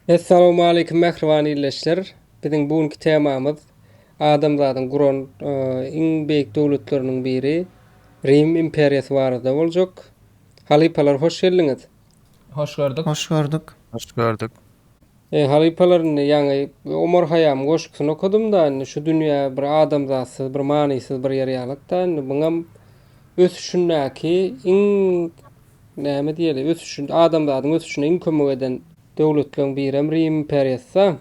Essalamualeýkum mähriban ildeşler! Biziň bu günki temamyz adamzadyň guran iň beýik döwletleriniň biri Rim imperiýasy barada boljak. Halypalar hoş geldiňiz! Hoş gördük. Hoş gördük. Hoş gördük. Halypalar indi ýaňy Omar Haýýamyň goşgusyny okadym-da indi şu dünýä bir adamzatsyz bir manysyz bir ýer ýalyk-da indi muňam ösüşindäki iň Näme diýeli, ösüşinde, adamzadyň ösüşine iň kömek eden döwletleriň birem Rim imperiýasy-da.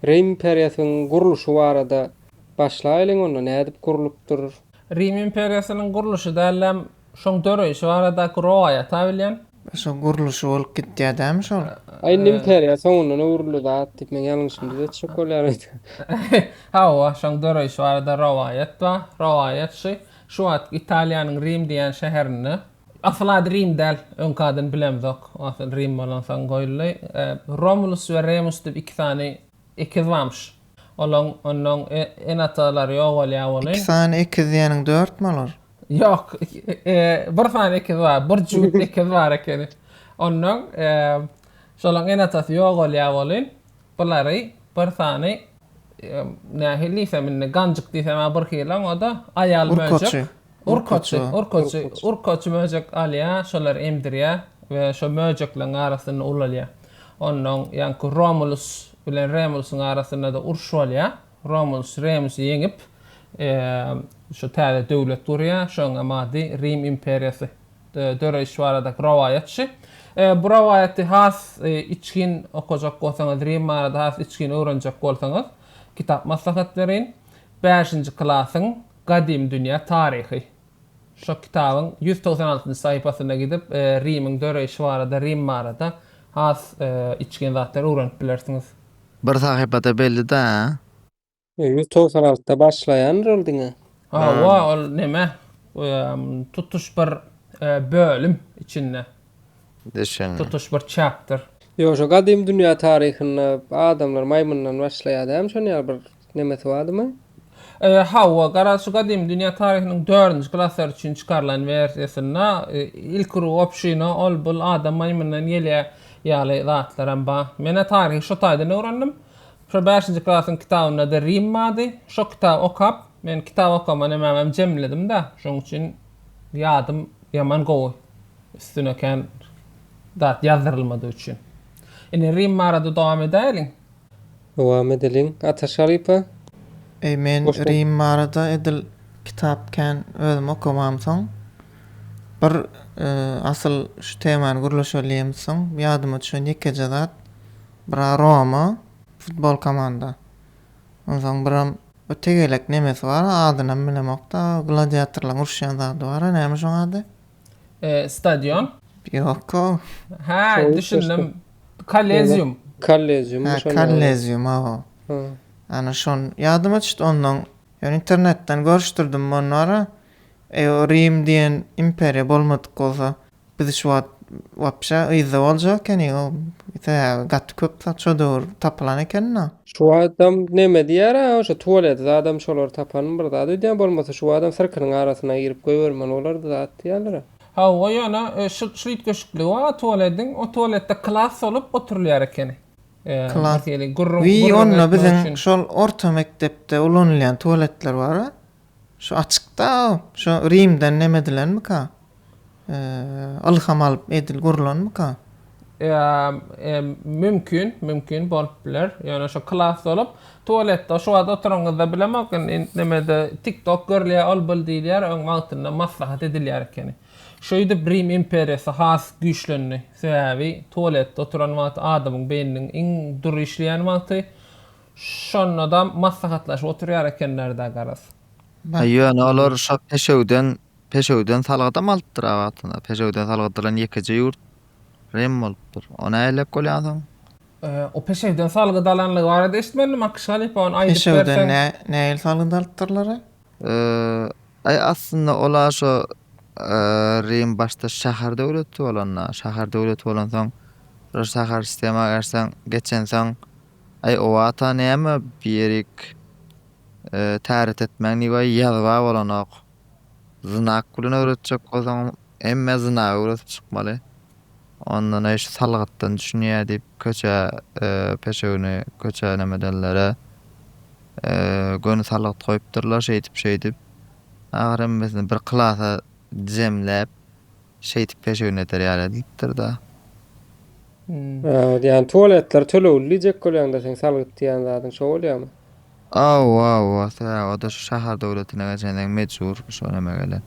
Rim imperiýasynyň gurluşy barada başlaýlyň onda, nädip gurlupdyr? Rim imperiýasynyň gurluşy dälläm, şoň döreýşi baradaky rowaýata bilýän. Şo gurluşy bolup gitýä dämi şol? A indi imperiýa soňundan öwrüldi zat diýip meň ýalňyşymdyz etjek bolýar öýdýän. Hawa, şoň döreýşi barada rowaýat bar. Rowaýat şu, şu wagtky Italiýanyň Rim diýen şäherinde Asyl ady Rim däl, öňki adyny bilemzok. Asyl Rim bolansoň goýuldy. Romulus we Remus diýip iki sany ekiz barmyş. Olaň onnoň ene-atalary ýogalýar welin. Iki sany ekiz diýeniň dörtmi olar? Ýok, bir sany ekiz bar, bir jübüt ekiz bar ekeni. Onnoň şolaň ene-atasy ýogalýar welin, Bulary bir sany nähili diýsem indi ganjyk diýsem-ä birhili-aň o-da aýal möjek. Urkaçy. Urkaçy. Urkaçy. Urkaçy möjek alýar, şolary emdirýär we şo möjekleriň arasynda ulalýar. Onnoň ýaňky Romulus bilen Remulusyň arasynda-da uruş bolýar. Romulus Remusy ýeňip, şu täze döwlet gurýar, şonuň hem ady Rim imperiýasy. döreýşi baradaky rowaýat şu. Bu rowaýaty has içgin okajak bolsaňyz, Rim barada has içgin öwrenjek bolsaňyz, kitap maslahat bereýin. Bäşinji klasyň Gadymy dünýä taryhy. Şo kitabyň ýüz togsan altynjy sahypasyna gidip, Rimiň döreýşi barada, Rim barada has içgin zatlary öwrenip bilersiňiz. Bir sahypad-a belli-dä. Ýüz togsan altda başlaýandyr ol diňe. Hawa, ol näme, tutuş bir bölüm içinde. Düşündim. Tutuş bir chapter. Ýok, şo gadymy dünýä taryhynda adamlar maýmyndan başlaýar dämi, şonuň ýaly bir nämesi bardymy? Hawa, garaz, şu gadymy dünýä taryhynyň dördünji klaslar üçin çykarylan wersiýasynda ilki ruh obşyna ol-bul adam maýmyndan gelýär ýaly zatlaram bar. Men-ä taryhy şo taýdan öwrendim. Şo bäşinji klasyň kitabynda ady Rim bardy. Şo kitaby okap, men kitap okama nemäňem jemledim-de, şoň üçin ýadym ýaman gowy, üstüne kän zat ýazdyrylmadygy üçin. Indi Rim barada dowam edäýeliň. Dowam edeliň, ata Şalypa. Eý, men Rim barada edil kitap kän özüm okamamsoň, bir asyl şu temany gürleşeliýemsoň, ýadyma düşen ýekeje zat, Bira Roma futbol komanda. Onsoň biram bir tegelek nemesi bar, adynam bilemok-da, gladiatorlaň uruşýan zady bar-a, näme şoň ady? E, stadion? Ýok-ow. Hä, düşündim. Kollezium. Kollezium, şonda. Hä, kollezium, hawa. Hä. Ana şon ýadyma düşdi, onnoň ýöne internetden görüşdirdim, onora, eý, o Rim diýen imperiýa bolmadyk bolsa, Biz şu wagt wapşe yzda boljak ekeniň o sebäbi gaty köp zat şo döwür tapylan ekeni-da. Şu wagtam neme diýer-ä şo tuwalet zadam şolar tapan bir zat öýdýän bolmasa şu wagtam syrkynyň arasyna girip goýbermeli bolardy zat diýýärler-ä. Hawa ýöne şul şul üýtgeşikligi bar tuwalediň o tuwaletde klas solup oturylýar ekeni. Klas. Gürrüň gürrüň etmek üçin. Wiý onda biziň şol orta mekdepde ulanylýan tuwaletler bar-a. Şu açykda şu Rimden neme edilenmika? Ylham alyp edil gurlanmyka? Mümkin, mümkin bolup biler. Ýöne şu klas bolup, tualetde şu wagt oturanyňyzda bilemok indi nemede tiktok görülýär, ol bul diýilýär, öň wagtynda maslahat edilýär ekeni. Şeýdip Rim imperiýasy has güýçlendi. Sebäbi tualetde oturan wagty adamyň beýniniň iň dury işleýän wagty. Şonda-da maslahatlaşyp oturýar ekenler-dä garaz. Aý, ýöne olar şo peşewden, peşewden salgydam alypdyr-a wagtynda. Peşewden salgyt alan ýekeje ýurt Rim bolupdyr. O nähelelik bolýan soň? O peşewden salgyt alanlygy barada eşitmedim, Akyş halypa, ony aýdyp berseň. Peşewden nähili salgyt alypdyrlar-a? Aý, aslynda olar şo Rim başda şäher döwleti bolanda, şäher döwleti bolansoň, şo şäher sistema geçseň, geçensoň, Aý o wata näme bir ýerik täret etmäň diýip aý ýazba bolanok. Znak bilen öwretjek bolsaňam hemme znak öwredip çykmaly. Ondan aý şu salgytdan düşünýä diýip köçä peşewini köçä näme edenlere göni salgyt goýupdyrlar şeýdip şeýdip. Ahyry hemmesini bir klasa jemläp şeýdip peşewn eder ýaly diýipdir-da. Ýani tualetler tölegli diýjek bolýaňda seň salgyt diýýän zadyň şo bolýamy? Hawa hawa sebäbi oda şu şahar döwletine geçendeň mejbur şo näme gelen.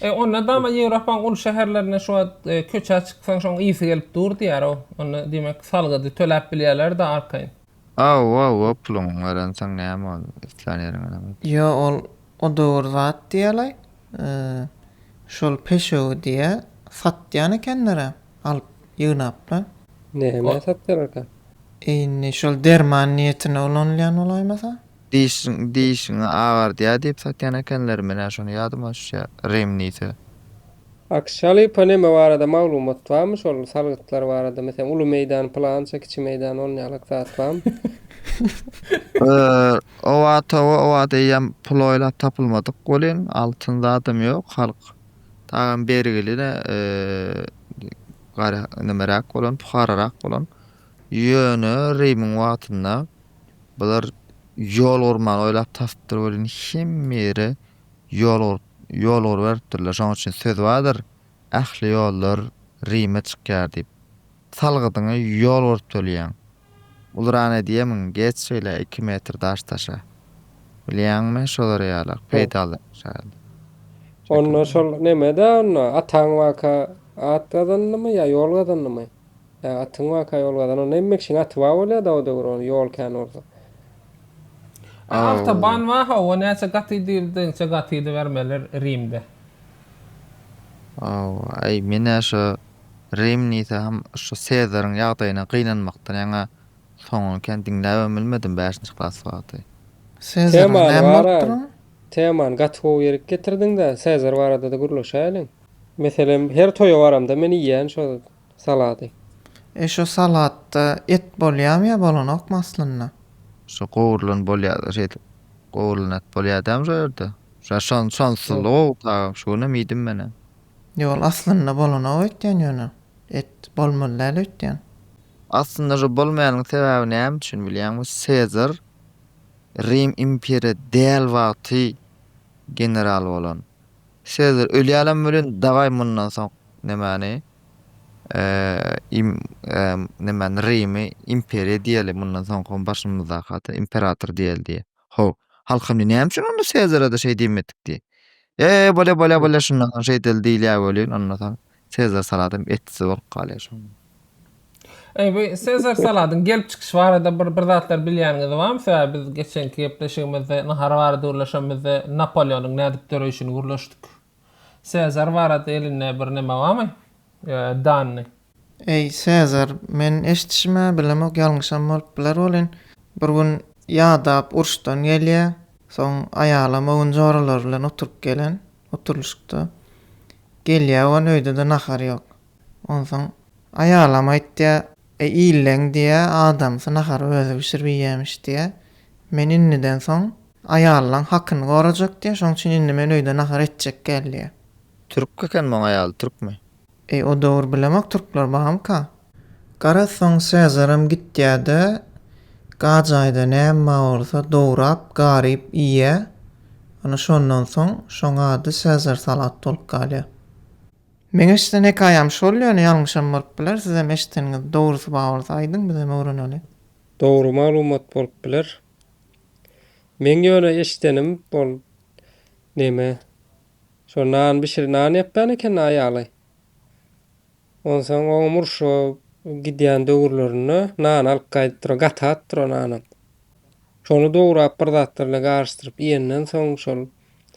E onda dama Ýewropaň uly şäherlerinde şu wagt köçä çyksaň şoň ysy gelip dur diýýär-ow. Onda diýmek salgydy töläp bilýärler-de arkaýyn. Aw-aw-aw puluňy garansaň näme boldy, islän ýeriňe däl ol. Ýo ol o döwür zat diýälaý. Şol peşewi diýä satýan ekenler-ä alyp ýygnaplar. Nämä satýarlarka? Indi şol derman niýetine ulanylýan bolaýmasa? Dişiň dişiňi agardýa diýip satýan ekenler menä şony ýadyma düşýä rim diýse. Akşaly ponema barada maglumat barmy şol salgytlar barada meselem uly meýdan pylança kiçi meýdan on ýalyk zat barmy. Oba toba oba deýýäm pul oýlap tapylmadyk welin altyn zadam ýok halk dagam bergili ne gara nemeräk bolan puhararak bolan ýöne Rimiň wagtynda bular ýol gurmany oýlap tapypdyr welin hemme ýere ýolgur ýolgur beripdirler, şonuň üçin söz bardyr, Ähli ýollar Rime çykýar diýip. Salgydyňy ýol görüp tölýäň. Ulrana diýemiň, geç şeýle iki metr daş taşa. Bilýäňmi, şolar ýalak, peýdaly şaýyl. Onda şol neme-dä onda, ataň baka at gazandymy ýa ýol gazandymy? Ýa atyň baka ýol gazan, onda hemme kişiň aty bar bolýa-da o döwür, ony ýol kän bolsa. A awtoban wa hawa näçe gaty diýildi inçe gatydy bermeler rimde. Hawa aý menä şo rim diýsem şo sezaryň ýagdaýyna gynanmakdan ýaňa soňuny kän diňläbem bilmedim bäşinji klas wagty. Sezaryň näme bolupdyr oň? Temany gaty gowy ýerik getirdiňdä sezar baradada gürleşäýeliň. Meselem her toýa baramda men iýýän şo Salady. E şo salatda et bolýamy ýa bolanokmy aslynda? Şo gowrulan bolýada şeýdip gowrulan et bolýadamy şo ýerde? Şa şon şonsulygy-ow tagam şu günem iýdim menem. Ýol aslynda bolanok öýtýän ýöne et bolmaly däl öýtýän. Aslynda şo bolmaýanyň sebäbi näme üçin bilýäňmi Sezar Rim imperiýa däl wagty general bolan. Sezar ölýälem welin dawaý mundan soň nemäni. Eee emm nämäni Rimi imperiýa diýeli mundan soňkam başymyzdaky ata imperator diýeli diýe. How. Halkam diýe näme üçin onda Sezara-da şeý diýmedik diýe. Eee bolýa bolýa bolýa şundan soň şeýdeli diýilýä welin ondan soň Sezar saladam etsiz bolup galýa şonda. Eý bu Sezar saladyň gelip çykyşy barada bir bir zatlar bilýäniňiz barmy sebäbi biz geçenki gepleşigimizde nahar barada gürleşenimizde Napoleonyň nädip döreýşini gürleşdik. Sezar barada elinde bir näme barmy? Danny. Eý, Sezar, men eşitişim-ä, bilemok, ýalňyşam bolup biler welin, bir gün Ýadap uruşdan gelýär, soň aýalam öwün joralary bilen oturyp gelen, oturylyşykda. Gelýär öwün, öýde-de nahar ýok. Onsoň aýalam aýtýar, Eý, illeň diýýär, adamsy nahary özi bişirip iýýämiş diýýär. Men indiden soň Aýalylaň hakyny gorajak diýýä şoň üçin indi men öýde nahar etjek gel diýýä. Türk eken muň aýaly türkmi. Eý o dowur bilemok türkler bamyka. Garaz soň Sezaram gitýäde gajaýda näme bar bolsa dowrap garyp iýýä ana şondan soň şoň ady Sezar salat bolup galýa. Meň eşiden hekaýam şol ýöne ýalňyşam bolup biler sizem eşideniňiz dogrysy bar bolsa aýdyň bizem öwreneli. Dogry maglumat bolup biler. Meň ýöne eşidenim ol neme şo nan bişir nan ýapýan eken aýaly. Onsoň oňam urşa gidýän döwürlerinde nan alyp gaýdypdyr gatatdyr o nanam. Şony dograp bir zatlar bilen garyşdyryp iýenden soň şol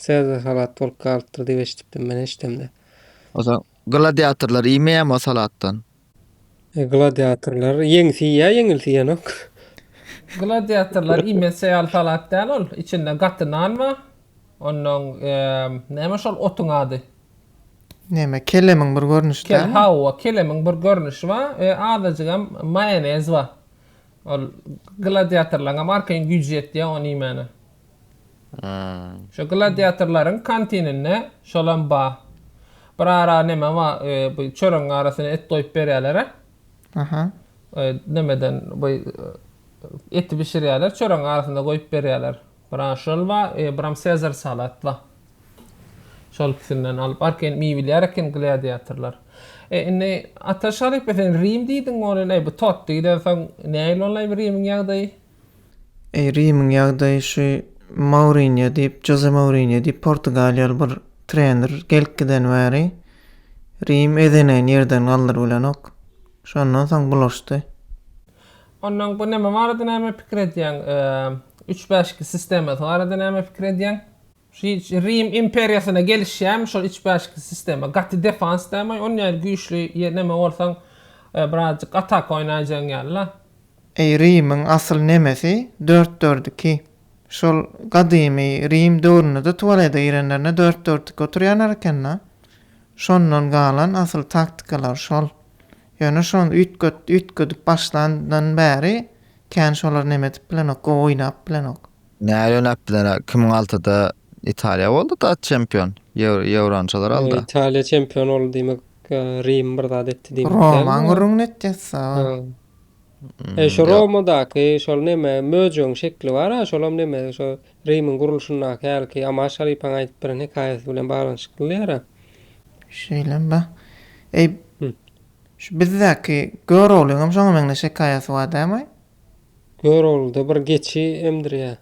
sebze salat bolup galypdyr diýip eşidipdim men eşdemde. Onsoň gladiatorlar iýmeýärmi o salatdan? E, gladiatorlar ýeňsi ýa ýeňilsi ýanok. Gladiatorlar iýmezçe ýaly salat däl ol. Içinde gaty nan bar. Ondan eee, näme şol otuň ady? Näme, kelemiň bir görnüşi Kel, dälmi? hawa, kelemiň bir görnüşi bar we azajygam maýonez bar. Ol gladiatorlaryňam arkaýyn güýji ýetýär ony iýmäne. Şu gladiatorlaryň kantininde şolam bar. Bir ara neme bar, bu çöregiň arasyna et goýup berýärler-ä. Aha. Nemeden bu eti bişirýärler, çöregiň arasyna goýup berýärler. Bir ara şol bar, biram Sezar salat bar. Şol ikisinden alyp, arkaýyn iýibilýär eken gladiatorlar. E, indi Ataş halypa sen Rim diýdiň, ol el, eý, bu Totti giden soň nähili boldy eý bu Rimiň ýagdaýy? Eý, Rimiň ýagdaýy şu Mourinýo diýip, Joze Mourinýo diýip portugaliýaly bir trener gelip giden bäri Rim ezenegini ýerden galdyryp bilenok. Şondan soň bulaşdy. Onnoň bu neme barada näme pikir edýäň? Üç-bäşki sistemasy barada näme pikir edýäň? Şi Rim imperiýasyna gelişýämi şol içbäşikli sistema? Gaty defans dämi on ýaly güýçli ýe neme bolsaň birazjyk ataka oýnaýjaň ýaly-la. Eý Rimiň asyl nemesi dört dört iki. Şol gadymy Rim döwründede tuwalete girenlerinde dört dört iki oturýarlar ekenda. Şondan galan asyl taktikalar şol. Ýöne şony üýtget üýtgedip başlandan bäri kän şolar neme edip bilenok gowy oýnap bilenok. Näle näpdiler kimin altyda italiýa bolduda çempion ýewrançalar aldy italiýa çempion boldy diýmek rim bir zat etdi diýmek dälmi romaň gürrüňini etýäs e şo romadaky şol neme möjegiň şekli bar a şolam neme şo rimiň gurluşyndaky hälki amaş halypaň aýdyp beren hekaýasy bilen baglanyşykly diýer a şeýlem ba eý şu bizdäki göroglyňam şoňa meňzeş hekaýasy bar dämi Göroglyda bir geçi emdirýä.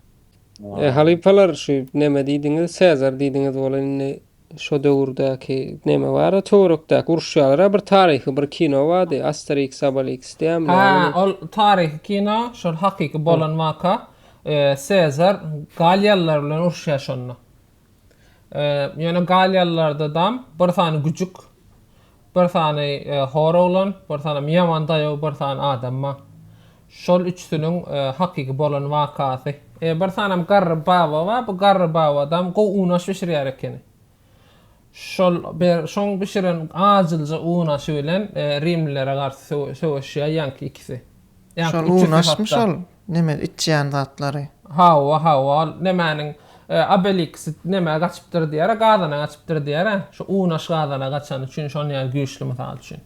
E, halypalar şu neme diýdiňiz, Sezar diýdiňiz bol indi şo döwürdäki neme bara töwerekdäki uruşýalara bir taryhy bir kino bardy Asterix Sabalix diýýämi Ha, näme ol taryhy kino şol hakyky bolan waka. E, Sezar galýalylar bilen uruşýa şonda. Ýöne galiýalylardadam bir sany güjük, bir sany hor oglan, bir sanam ýaman daýaw bir sany adam bar. Şol üçüsiniň hakyky bolan wakasy. Bir sanam garry baba bar, bu garry babadam gowy unaş bişirýär ekeni. Şol bir şoň bişiren ajylja unaşy bilen rimlilere garşy söweşýär ýaňky ikisi. Ýaňky üçüsi hatda. Neme içýän zatlary. Hawa hawa ol nemäniň obeliksi nemä gaçypdyr diýara gazana gaçypdyr diýara şu unaş gazana gaçany üçin şon ýaly güýçli mysal üçin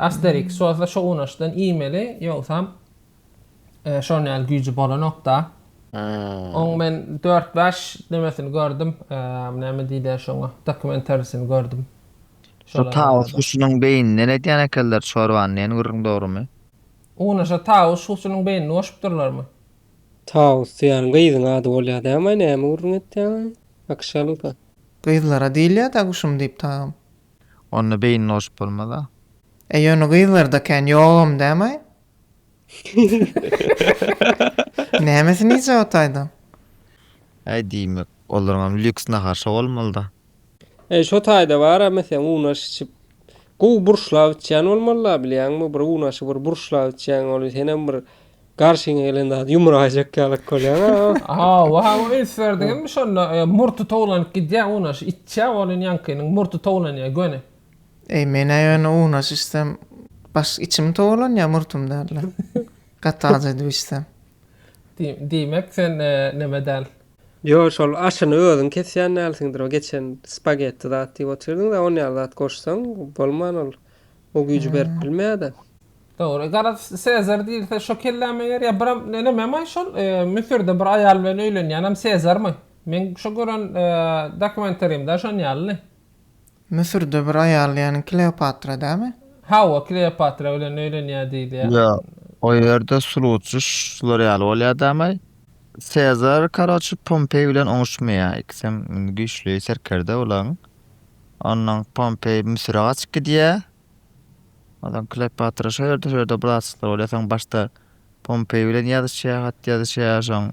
asteriks bolsa şo unaşdan iýmeli ýogsam şon ýaly güýji bolanokda oň men dört bäş nemesini gördüm näme diýler şoňa dokumentarisini gördüm Şu tawus guşunyň beýninden edýän ekenler çorbany nen gürrüň dogrymy? Unaşa Tawus şuwçunyň beýnini goşupdyrlarmy? Tawus diýýän gyzyň ady bolýa dämaý näme gürrüň etýäňaý akşalyka. Gyzlara diýilýä da guşum diýip tagam. Onda beýnini goşup bolmaz-a. E ýöne gyzlarda kän ýogam dämaý? Nämesini iýjek otaýdyň? Äý diýmek, olaryňam lýuks nahar şo bolmaly-da. Eý şo taýda baramy seň unaş içip gowy burçlap içýän bolmalyda bilýäňmi bir unaşy bir burçlap içýäň ol senem bir garşyňa gelen zady ýumraýjak ýalak bolýaň a. Hawa hawa üns berdiňizmi şonda murty towlanyp gidýä unaşy içýä ol indi ýaňkynyň murty towlanýa göni. Eý menä ýöne unaş içsem baş içim towalanýa murtum dälde gaty aç edip içsem. Diýmek sen neme däl. Ýo şol aşyny özüň kesýän dälsiňdir o geçen spagetti zat diýip otyrdyňda on ýaly zat goşsaň bolman ol o güýji berip bilmeýärda. Dogry. Garaz Sezar diýilse şo kellä meger ýa biram nememoý şol Müsürde bir aýal bilen öýlenýänem Sezarmy? Meň şo gören dokumentarymda şon ýalydy. Müsürde bir aýal diýýäniň Kleopatra dämi? Hawa, Kleopatra bilen öýlenýär diýilýär. Ýa, o ýerde sulutjy şular ýaly bolýar dämaý? Sezar karoçi Pompeý bilen oňuşmaýar, ikisem indi güýçli serkerde bulaň. Ondan Pompeý Müsüre gaçyp gidýär. Ondan Kleopatra şo ýerde, şo ýerde bratstwo bolýar, soň başda Pompeý bilen ýazyşýar, hat ýazyşýar, soň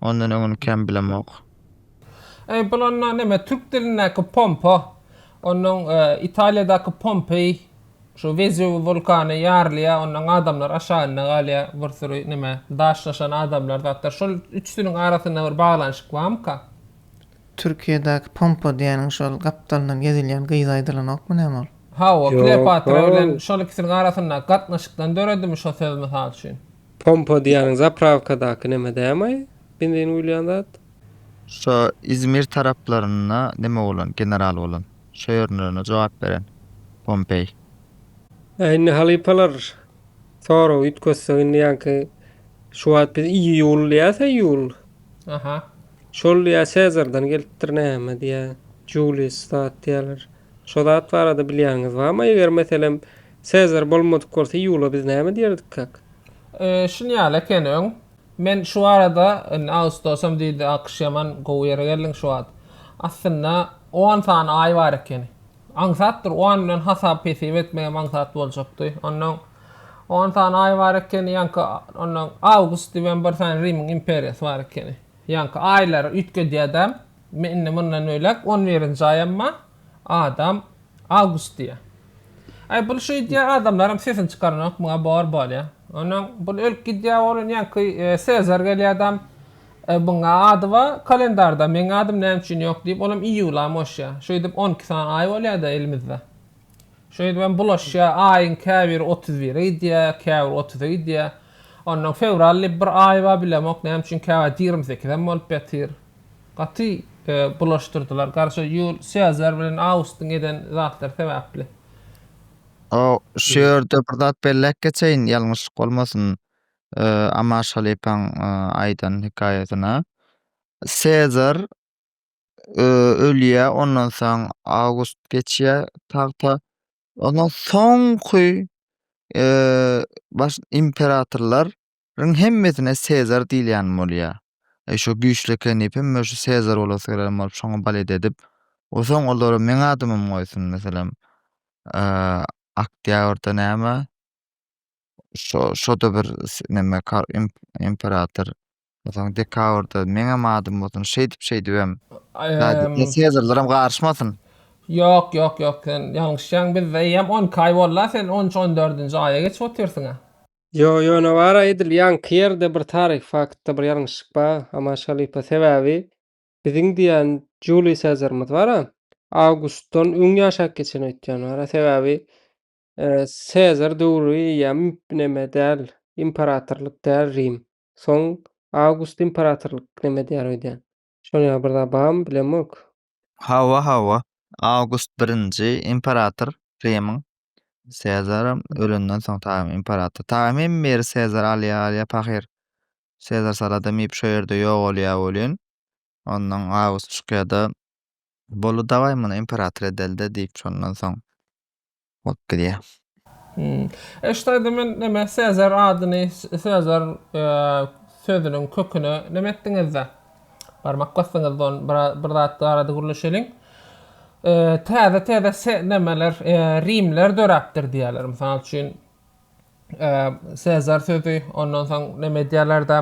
Ondan öňüni kän bilemok. Eý, bul onda näme, türk dilindäki pompa. Ondan Italiýadaky Pompeý, şu Wezuw wulkany ýarylýar, ondan adamlar aşagynda galýar, bir süri näme, daşlaşan adamlar zatlar. Şol üçüsiniň arasynda bir baglanyşyk barmyka? Türkiýedäki pompa diýeniň şol gapdalyndan gezilýän gyzy aýdylanokmy näme ol? Hawa, Kleopatra bilen şol ikisiniň arasyndaky gatnaşykdan döredimi şo söz mysal üçin? Pompa diýýäniň zaprawkadaky neme dämi? Benzin guýulýan zat. Şo izmir taraplarynda neme bolan general bolan şo ýerlerine jogap beren pompeý. Äý indi halypalar soragy üýtgetsek indi ýaňky şu wagt biz iýul diýýäs a iýul. Aha. Şol diýýä Sezardan gelipdir näme diýýä Julius zat diýýäler. Şo zat barada bilýäniňiz barmy eger meselem Sezar bolmadyk bolsa Ýula biz näme diýerdikkak? Şuny ýaly eken öň. Men şu arada indi Awgustosam diýdi a kyş ýaman gowy ýere geldiň şu wagt. Aslynda on sany aý bar ekeni. Aňsatdyr on bilen hasap hesip etmegem aňsat boljakdy. Onnoň on sany aý bar ekeni ýaňky onnoň Awgust diýibem bir sany Rimiň imperiýasy bar ekeni. Ýaňky aýlary üýtgedýädäm. Men indi mundan beýläk on birinji aýam bar. Adam Awgust diýýä. Aý bul şeýdýä adamlaram sesini çykaranok muňa bor bolýa. Onam bul ölüp gidýä onuň ýaňky Sezar gelýädam muňa ady bar kalendarda meň adym näme üçin ýok diýip onam iýula moşýa. Şeýdip on iki sany aý bolýada elimizde. Şeýdibem bulaşýa aýyň käbiri otuz bire gidýä käbiri otuza gidýä. Ondan fewral diýip bir aý bar bilemok näme üçin käwagt ýigrimi sekizem bolup ýatyr. Gaty bulaşdyrdylar. Garşy Ýul Sezar bilen Awgustyň eden zatlary sebäpli. O, şu ýerde bir zat belläp geçeýin, ýalňyşlyk bolmasyn, Amaş halypaň aýdan hekaýasyna. Sezar ölýär, ondan soň Awgust geçýär tagta. Ondan soňky imperatorlar Iň hemmesine Sezar diýilýän bolýa. Eý, şo güýçli eken diýip, hemme şu Sezar bolasy gelen bolup, şoňa balet edip, o soň olara meň adymym goýsun, meselem, Oktýabrda näme, şo, şo-da bir neme, imperator, o soň dekabrda meňem adym bolsun, şeýdip, şeýdibem, Sezarlaram garyşmasyn. Ýok, ýok, ýok, sen ýalňyşýaň, bizde eýýäm onki aý boldy-a, sen on üç, on dördünji aýa geçip otyrsyň-a. Ýo, ýöne bar-a edil ýaňky ýerde bir taryhy faktda bir ýalňyşlyk bar, Amaş halypa, sebäbi biziň diýen Juliý Sezarymyz bar-a, Awgustdan öň ýaşap geçen öýtýän bar-a, sebäbi Sezar döwri ýa neme däl, imperatorlyk däl Rim, soň Awgust imperatorlyk neme diýýär öýdýän. Şonuň ýaly bir zat barmy, bilemok. Hawa, hawa. Awgust birinji imperator Rimyň. Sezaram ölenden soň tagam imperator. Tagam hem meri Sezar alýa, alýa pahyr. Sezar saladam iýip şo ýerde ýogalýa welin. Ondan Awgust çykýada. Bolu dawaý muny imperator edeli-de diýip şondan soň. bolup gidýär. Hmm. E şu taýda men näme Sezar adyny, Sezar e, sözüniň köküne näme etdiňizde? Barmak basdyňyzda on bir zat barada gürleşeliň. E, täze täze se, nämeler e, rimler döräpdir diýerler. Mysal üçin Sezar sözi, ondan soň näme edýärler-de,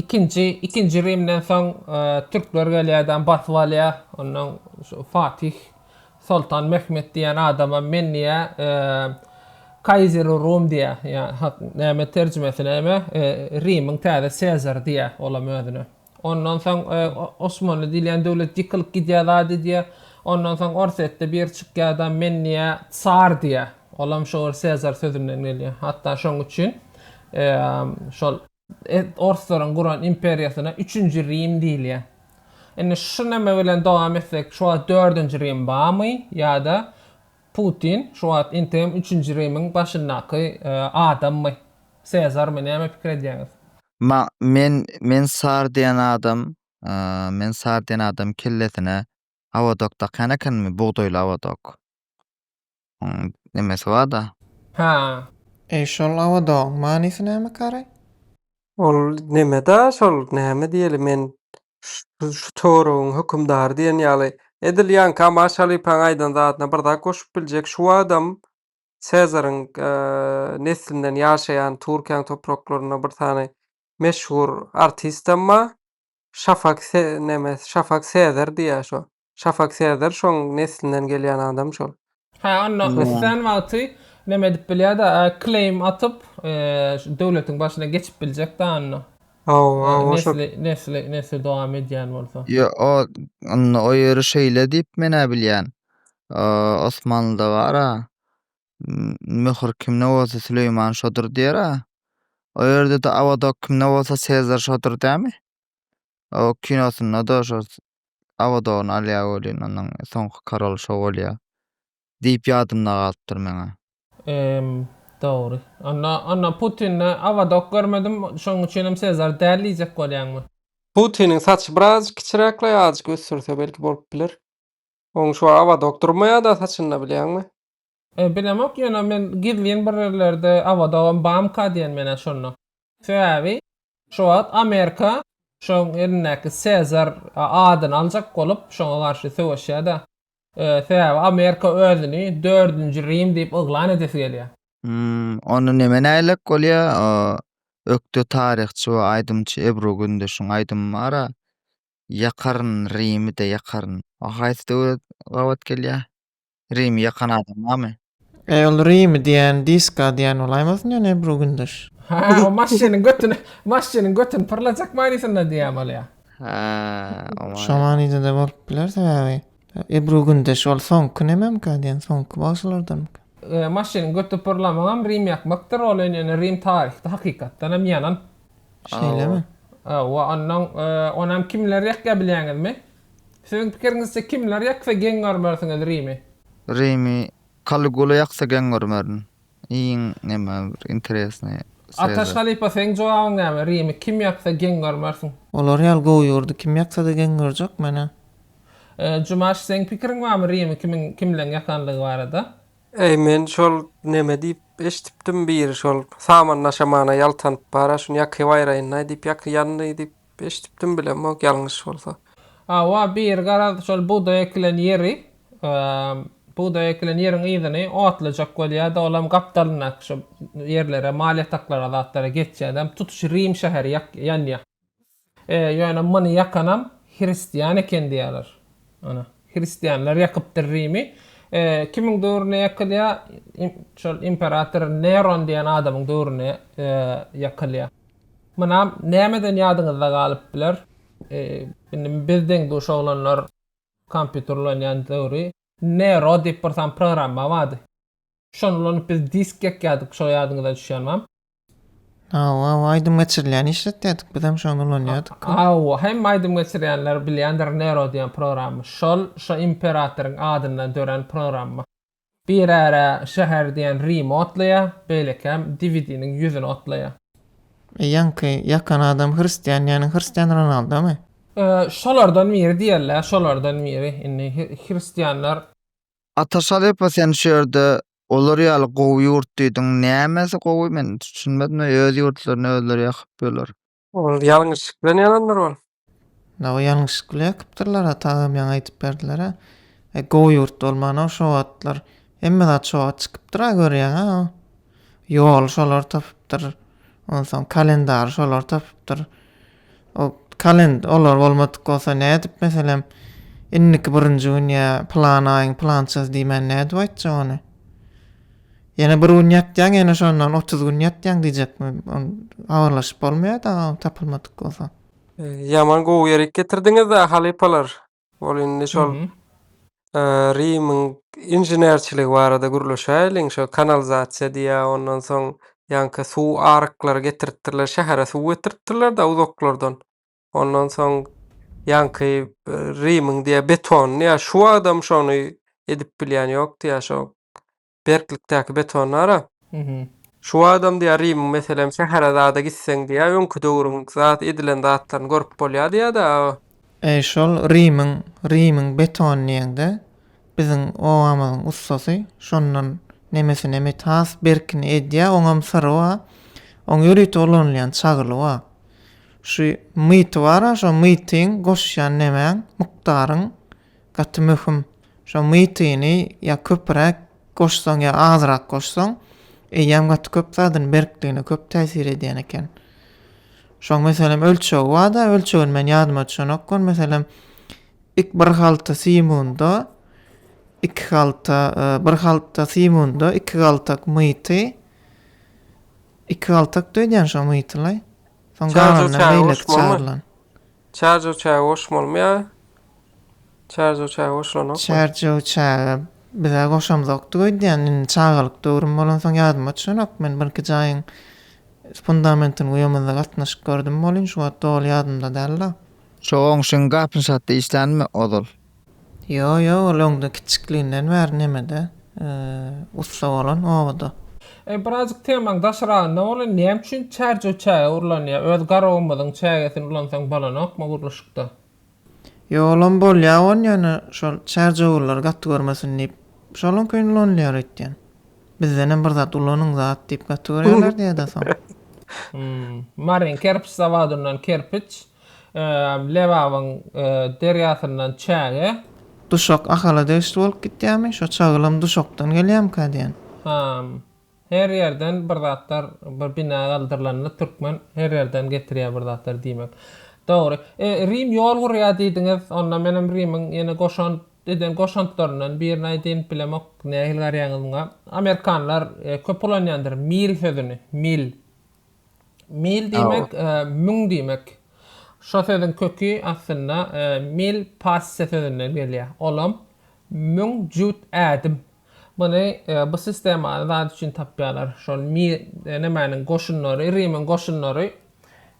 ikinji, ikinji Rimden soň türkler gelýär-de, basyp alýar. Ondan şu Fatih Soltan Mehmet diýen adamam men diýär, Kaiseri Rum diýär. Ýa, näme terjimesi näme? Rimiň täze Sezary diýär olam özüne. Ondan soň Osmanly diýilýän döwlet ýykylyp gidýär zat edýär. Ondan soň Orsýetde biri çykýar-da, men diýýär, tsar diýýär. Olam şo bir Sezar sözünden gelýär. Hatda şoň üçin şol orslaryň guran imperiýasyna üçünji Rim diýilýär. Indi şu näme bilen dowam etsek, şu wagt dördünji Rim barmy ýa-da Putin şu wagt interim üçünji Rimiň başyndaky adammy, Sezarmy, näme pikir edýäňiz? Ma, men, men sar diýen adam, a, men sar diýen adam kellesine awodok dakýan ekenmi, bugdaýly awodok. Oň nemesi bar-da. Hä. Eý, şol awodogyň manysy näme, Kary? Ol neme-da şol, näme diýeli, men şu töweregiň hökümdary diýen ýaly. Edil ýaňky Amaş halypaň aýdan zadyna bir zat goşup biljek, şu wagtam Sezaryň neslinden ýaşaýan Türkiýäň topraklarynda bir sany meşhur artistem bar. Şafak Se neme Şafak Sezer diýýär şo. Şafak Sezer şoň neslinden gelýän adam şol. Hä onda islän wagty neme edip bilýärda claim atyp şu döwletiň başyna geçip biljek da onda. Haw haw o şol. Nesli nesli nesli dowam edýän bolsa. Ýo ok onda o ýeri şeýle diýip menä bilýän. Osmanlyda bar-a. Möhür kimde bolsa Süleýman şodur diýer-ä. O ýerde-de Awadok kimde bolsa Sezar şodur dämi? O kinosynda-da şo Awadogyny alýar welin, onuň soňky karoly şo bolýar diýip ýadymda galypdyr meň-ä. Emm, dogry. Onda, onda Putinde Awadok görmedim, şonuň üçinem Sezar däl diýjek bolýaňmy? Putiniň saçy biraz kiçiräk-le, azajyk ösdürse belki bolup biler. Oň şu awadok durmaýada saçynda bilýäňmi? E, bilemok ýöne men gizlin bir ýerlerde awadogam bamka diýen menä şonda. Sebäbi şu wagt Amerika şoň elindäki Sezar adyny aljak bolup şoňa garşy söweşýädä. E, sebäbi Amerika özüni dördünji Rim diýip yglan edesi gelýä. Hum, onda neme nägilek bolýa? Ökde taryhçy we aýdymçy Ebru Gündeşiň aýdymy bar-a. Ýakaryn, Rimi-de ýakaryn. A haýsy döwre gabat gelýär? Rimi ýakan adam barmy? Eý ol Rimi diýýän diska diýýän bolaýmasyn ýöne Ebru Gündoş. Ha o maşynyň götüni maşynyň götüni pyrlajak manysynda diýýän bolýar. Ha o many. Şo manyda-da bolup biler sebäbi Ebru Gündoş ol soňky nämemka diýen soňky bagşylardanmyka? Maşynyň göti pyrlamagam Rimi ýakmakdyr ol ýöne Rim taryhda hakykatdanam ýanan Şeýlemi? Hawa, ondan onam kimler ýakýar bilýäňizmi? Siziň pikiriňizçe kimler ýaksa geň görmersiňiz Rimi? Rimi Kaligula ýaksa geň görmerin. Iň näme bir interesnaý Sezar. Ataş halypa seň jogabyň näme? Rimi kim ýaksa geň görmersiň? Olar ýaly gowy ýurdy kim ýaksa-da geň görjek menä? Jumaş seň pikiriň barmy Rimi kimiň kimleň ýakandygy barada? Eý men şol neme diýip eşdipdim biri şol saman daşamana ýaltanyp bara şuny ýakyp aýraýynlaý diýip ýaky ýandy diýip eşdipdim bilemok ýalňyş bolsa. Hawa biri garaz şol bugdaý ekilen ýeri bugdaý ekilen ýeriň yzyny otlajak bolýada olam gapdalyndaky şo ýerlere mal ýataklara zatlara geçýädem tutuş Rim şäheri ýanýa. Ýöne muny ýakanam hristian eken diýýärler. Ana, hristianlar ýakypdyr Rimi. Kimiň döwründe ýakylýar? Şol imperator Neron diýen adamyň döwründe ýakylýar. Munam nämeden ýadyňyzda galyp biler? Indi biz deň-duş oglanlar kompýuter ulanýan döwri Nero diýip bir sany programma bardy. Şony ulanyp biz disk ýakýardyk, şo ýadyňyza düşýärmem? Hawa, aýdym geçirilýän işletýärdik, bizem şony ulanýardyk. Hawa, hemme aýdym geçirýänler bilýändir Nero diýen programmy. Şol şo imperatoryň adyndan dörän programma. Birä-rä şäher diýen Rimi otlaýa, beýlekäm Diwidiniň ýüzüni otlaýa. E ýaňky ýakan adam hristian diýeniň hristian Ronaldomy? E, şolardan biri diýerler, şolardan biri. Indi hristianlar. Ataşalypa sen şu ýerde Olar ýaly gowy ýurt diýdiň. Nämesi gowy men düşünmedim. Öz ýurtlaryny özleri ýakyp ýöler. Ol ýalňyşlyk bilen ýanandyr ol. Ýa ol ýalňyşlyk bilen ýakypdyrlar-a tagam ýaňy aýdyp berdiler-ä. E gowy ýurt bolman-a şo wagtlar hemme zat şo wagt çykypdyr-a görýäň-ä. Ýoly şolar tapypdyr. Onsoň kalendary şolar tapypdyr. Ol kalend olar bolmadyk bolsa nädip meselem indiki birinji gün ýa plan aýyň plançasy diýmän nädip aýtjak ony? Ýene bir gün ýatýaň ýene şondan otuz gün ýatýaň diýjekmi? Ony habarlaşyp bolmaýa daga ol tapylmadyk bolsa. Ýaman gowy ýerik getirdiňiz-ä halypalar. Ol indi şol Rimiň inženerçiligi barada gürleşäýeliň. Şo kanalizasiýa diýýär, ondan soň ýaňky suw aryklary getiripdirler, şähere suw getiripdirler-de uzaklardan. Ondan soň ýaňky Rimiň diýýär betonyny ýa şu wagtam şony edip bilýän ýok diýýär, şo berklikdäki betondara. Şu wagtam diýýär Rimiň meselem şähere zada gitseň diýýär öňki döwrüň zat edilen zatlaryny görüp bolýar diýýär-de. Eý şol Rimiň Rimiň betony diýeňde biziň obamyzyň ussasy şondan nemesini emit has berkini edýär oňam syry bar oň ýörite ulanylýan çagyly bar şu myty bar-a şo mytyň goşýan nemäň mukdaryň Gaty möhüm. Şo mytyny ýa köpüräk goşsaň ýa azrak goşsaň, eýýäm gaty köp zadyny berkligine köp täsir edýän eken. Şoň meselem ölçegi barda, ölçegini men ýadyma düşenok gon, meselem ik bir halta simunda, iki halta, bir halta simunda iki galtak myty, iki galtakdy öýdýän şo mytylaý. Soň galanynam beýleki çagyrylan. Çarj oçaga goşum bolmaýar. Çarj oçaga goşulanok. Çarj oçaga biza goşamzokdy öýdýän indi çagalyk döwrüm bolansoň ýadyma düşenok men birki jaýyň fundamentini guýamyzda gatnaşyp gördüm bolin şuwagt doly ýadymda dälda. Şo goňşyň gapyny satdy işlänmi ozal. Ýok, ýok, ol öňde kiçikliginden bäri nemede, ussa bolan, obada. Eý, birazjyk temaň daşragynda boly, näme üçin çärjew çäge urlanýar? Öz garagumyzyň çägesini ulansaň bolanokmy gurluşykda? Ýok, olam bolýar gon, ýöne şol çärjewurlar gaty görmesin diýip, şonuň üçin ulanylýar öýtýän. Bizdenem bir zat ulanyň zat diýip gaty görýärler-de ýa-da soň. Hum, Maryn kerpiç zawodyndan kerpiç, Lebabyň derýasyndan çäge. Duşak Ahala degişli bolup gitýärmi? Şo çagylam Duşakdan gelýärmikä diýen. Hám, her ýerden bir zatlar, bir bina galdyrylanda türkmen her ýerden getirýär bir zatlar diýmek. Dogry. E, Rim ýol gurýar diýdiňiz. Onda menem Rimiň ýene goşant eden goşantlaryndan birini aýdaýyn. Bilemok, nähili garýaňyz muňa. Amerikanlar köp ulanýandyr mil sözüni. Mil. Mil diýmek müň diýmek. Şo sözüň köki aslynda mil parsça sözünden gelýär. Olam müň jüt ädim. Muny bu sistemany zat üçin tapýarlar. Şol nemäniň goşunlary, Rimiň goşunlary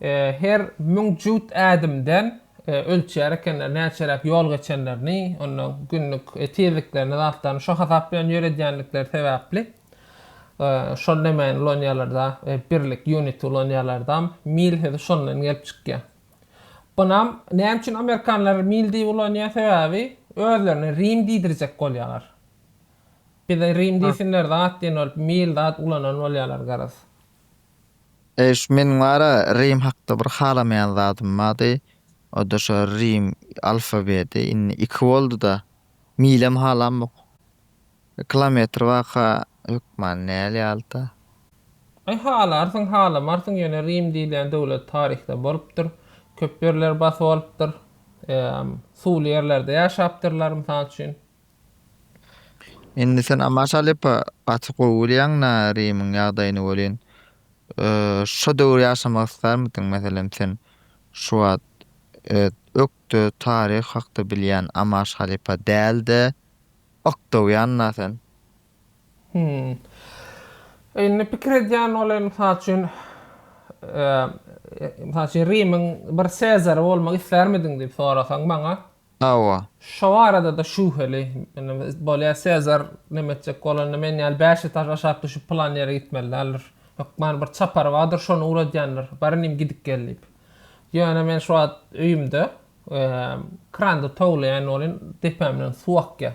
her müň jüt ädimden ölçýär ekenler, näçeräk ýol geçenlerini, onda günlük tizliklerini, zatlaryny şo hasap bilen ýöredýändikleri sebäpli. Şol demän ulanýarlarda, birlik, unit, ulanýarlardam mil sözi şondan gelip çykýar. Bunam näme üçin amerikanlar mil diýip ulanýar? Sebäbi özlerine rim diýdirjek bolýarlar. Bize rim diýsinler zat diýen bolup mil zat ulanan bolýarlar garaz. Eýş, meniň wara rim hakda bir halamaýan zadym bardy. O-da şo rim alfabedi. Indi iki boldy-da. Milem halamok. Kilometr waka hökmany näl ýalta? Aý halarsyň halamarsyň ýöne Rim diýilýän döwlet taryhda bolupdyr. Köp ýerleri basyp alypdyr. Suwly ýerlerde ýaşapdyrlar mysal üçin. Indi sen Amaş Alepa gaty gowy bilýäň na Rimiň ýagdaýyny welin şo döwür ýaşamak islärmidiň meselem sen şu wagt ökde taryh hakda bilýän Amaş Halepa dälde Ok dogýanna sen. Hum. Indi pikir edýän ol hem mysal üçin mysal üçin Rimiň bir Sezary bolmak islärmidiň diýip sorasaň maňa. Hawa. Şo barada-da şübheli. Indi bolýa Sezar näme etjek bolanda men ýaly bäş etaž aşak düşüp pylan ýere gitmeli däldir. Hökman bir çapary bardyr şony ugradýandyr. Barynym gidip gel diýip. Ýöne men şu wagt öýümde Kranda towlaýan welin, depämden suw akýar.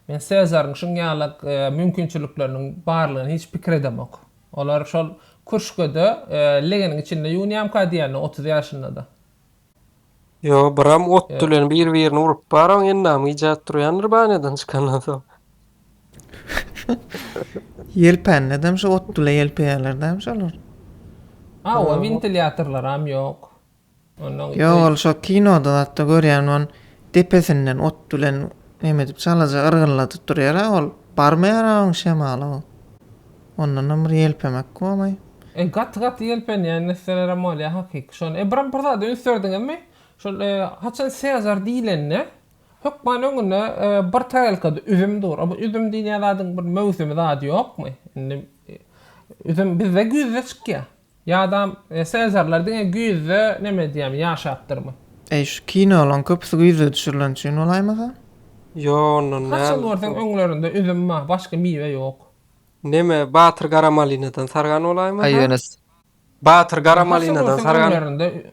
Men Sezaryň şuň ýaly mümkinçilikleriniň barlygyny hiç pikir edemok. Olar şol kürşgede legeniň içinde ýuwunýamyka diýýänini otuz ýaşynda-da. Ýo, biram otdy bilen bir-birini urup baram, endam gijäp turýandyr banýadan çykandan soň. Ýelpänledem şu otdyla ýelpeýärler dämi şolar? Hawa, wentilýatorlaram ýok. Ýok ol şo kinoda zatda görýän on depesinden ot bilen nemedip çalaja yrgynladyp durýara ol barmaýara oň şemaly o ondanam bir ýelpemek bolmaý. E gaty gaty ýelpenýän nesselerem bolýa hakyky şony e biram bir zada üns berdiňizmi şol e haçan sezar diýlende hökman öňünde e bir tarelkada üzüm dur a bu üzüm diýilýän zadyň bir möwsümi zady ýokmy indi üzüm bizde güýzde çykýa. Ýadam senzorlar diňe güýzde neme edýämi ýaşapdyrmy. Eý şu kinolaň köpüsi güýzde düşürilen üçin bolaýmasa. Ýo ondan däl. Haçan görseň öňlerinde üzüm bar başga miwe ýok. Neme Batyr Garamalinadan sargan bolaýmasa. Aý ýöne. Batyr Garamalinadan sargan. Haçan görseň öňlerinde.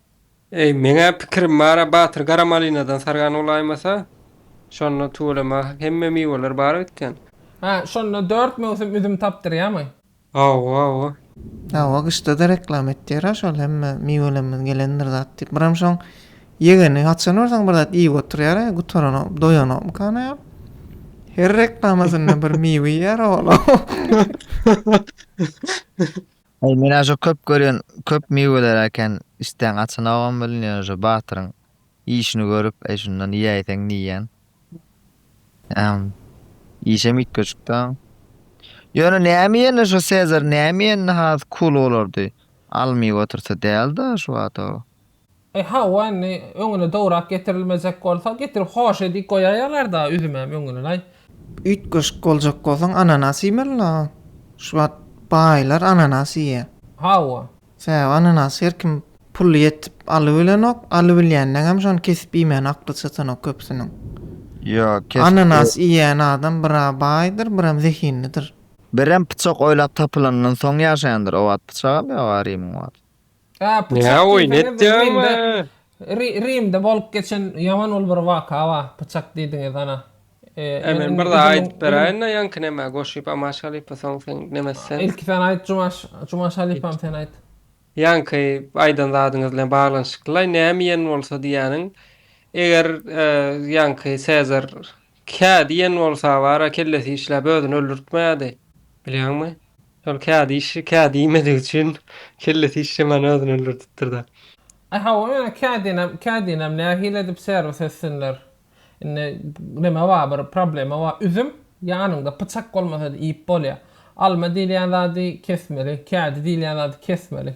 Eý, meň-ä pikirim bar-a, Batyr gara malinadan sargan bolaýmasa, şonda tüweleme hemme miweler bar öýtgen. Hä, şonda dört möwsüm üzüm tapdyrýamy? Hawa-hawa. Hawa, gyşda-da reklama etýär-ä şol hemme miwelerimiz gelendir zat diýip. Biram şoň ýegeni haçan barsaň bir zat iýip oturýar-a, gutaranok, doýanokmykan aýal? Her reklamasynda bir miwe iýýär oglum. Aý menä şo köp görýän köp miweler äken isdäň açanogam bilinýär şo batyryň işini görüp aý şundan iýäýseň diýýän. Äm işem üýtgeşikdä. Ýöne näme iýende şo Sezar näme iýende has cool bolardy. Al miwe otursa dälda şu wagta. E hawa indi öňüne dowrak getirilmejek bolsa getirip hoş edip goýaýalar-da üzümem öňüne-aý. Üýtgeşik boljak bolsaň ananas iýmeli-la. Şu wagt baýlar ananas iýýä. Hawa. Sebäbi ananasy her kim pul ýetip alybilenok, alybilýändeňem şony kesip iýmäne akly çatanok köpüsiniň. Ýok, kesip. Ananas iýýän adam bir-a baýdyr, birem zehinlidir. Birem pyçak oýlap tapylandan soň ýaşaýandyr. O wagt pyçak alýar-a Rimiň wagty. Näme oýun etýäňmi? Rimde bolup geçen ýaman ol bir waka bar. Pyçak diýdiňiz ana. Men bir zat aýdyp beräýin-de, ýaňky näme goşup Amaş halypa soň sen näme etseň? Ilki sen aýt Jumaş, Jumaş halypam sen aýt. Ýaňky aýdan zadyňyz bilen baglanyşykly-laý, näme iýen bolsa diýýäniň, eger ýaňky Sezar Kä diýen bolsa bara kellesi işläp özüni öldürtmeýärdi. Bilýäňmi? Şol kä diýişi kä diýmedigi üçin kellesi işlemän özüni öldürdipdir-dä. Aý hawa ýöne kä diýenem kä diýenem nähili edip serwis etsinler. Indi neme bar bir problema bar üzüm ýanyňda pyçak bolmasa-da iýip bolýar. Alma diýilýän zady kesmeli, kädi diýilýän zady kesmeli.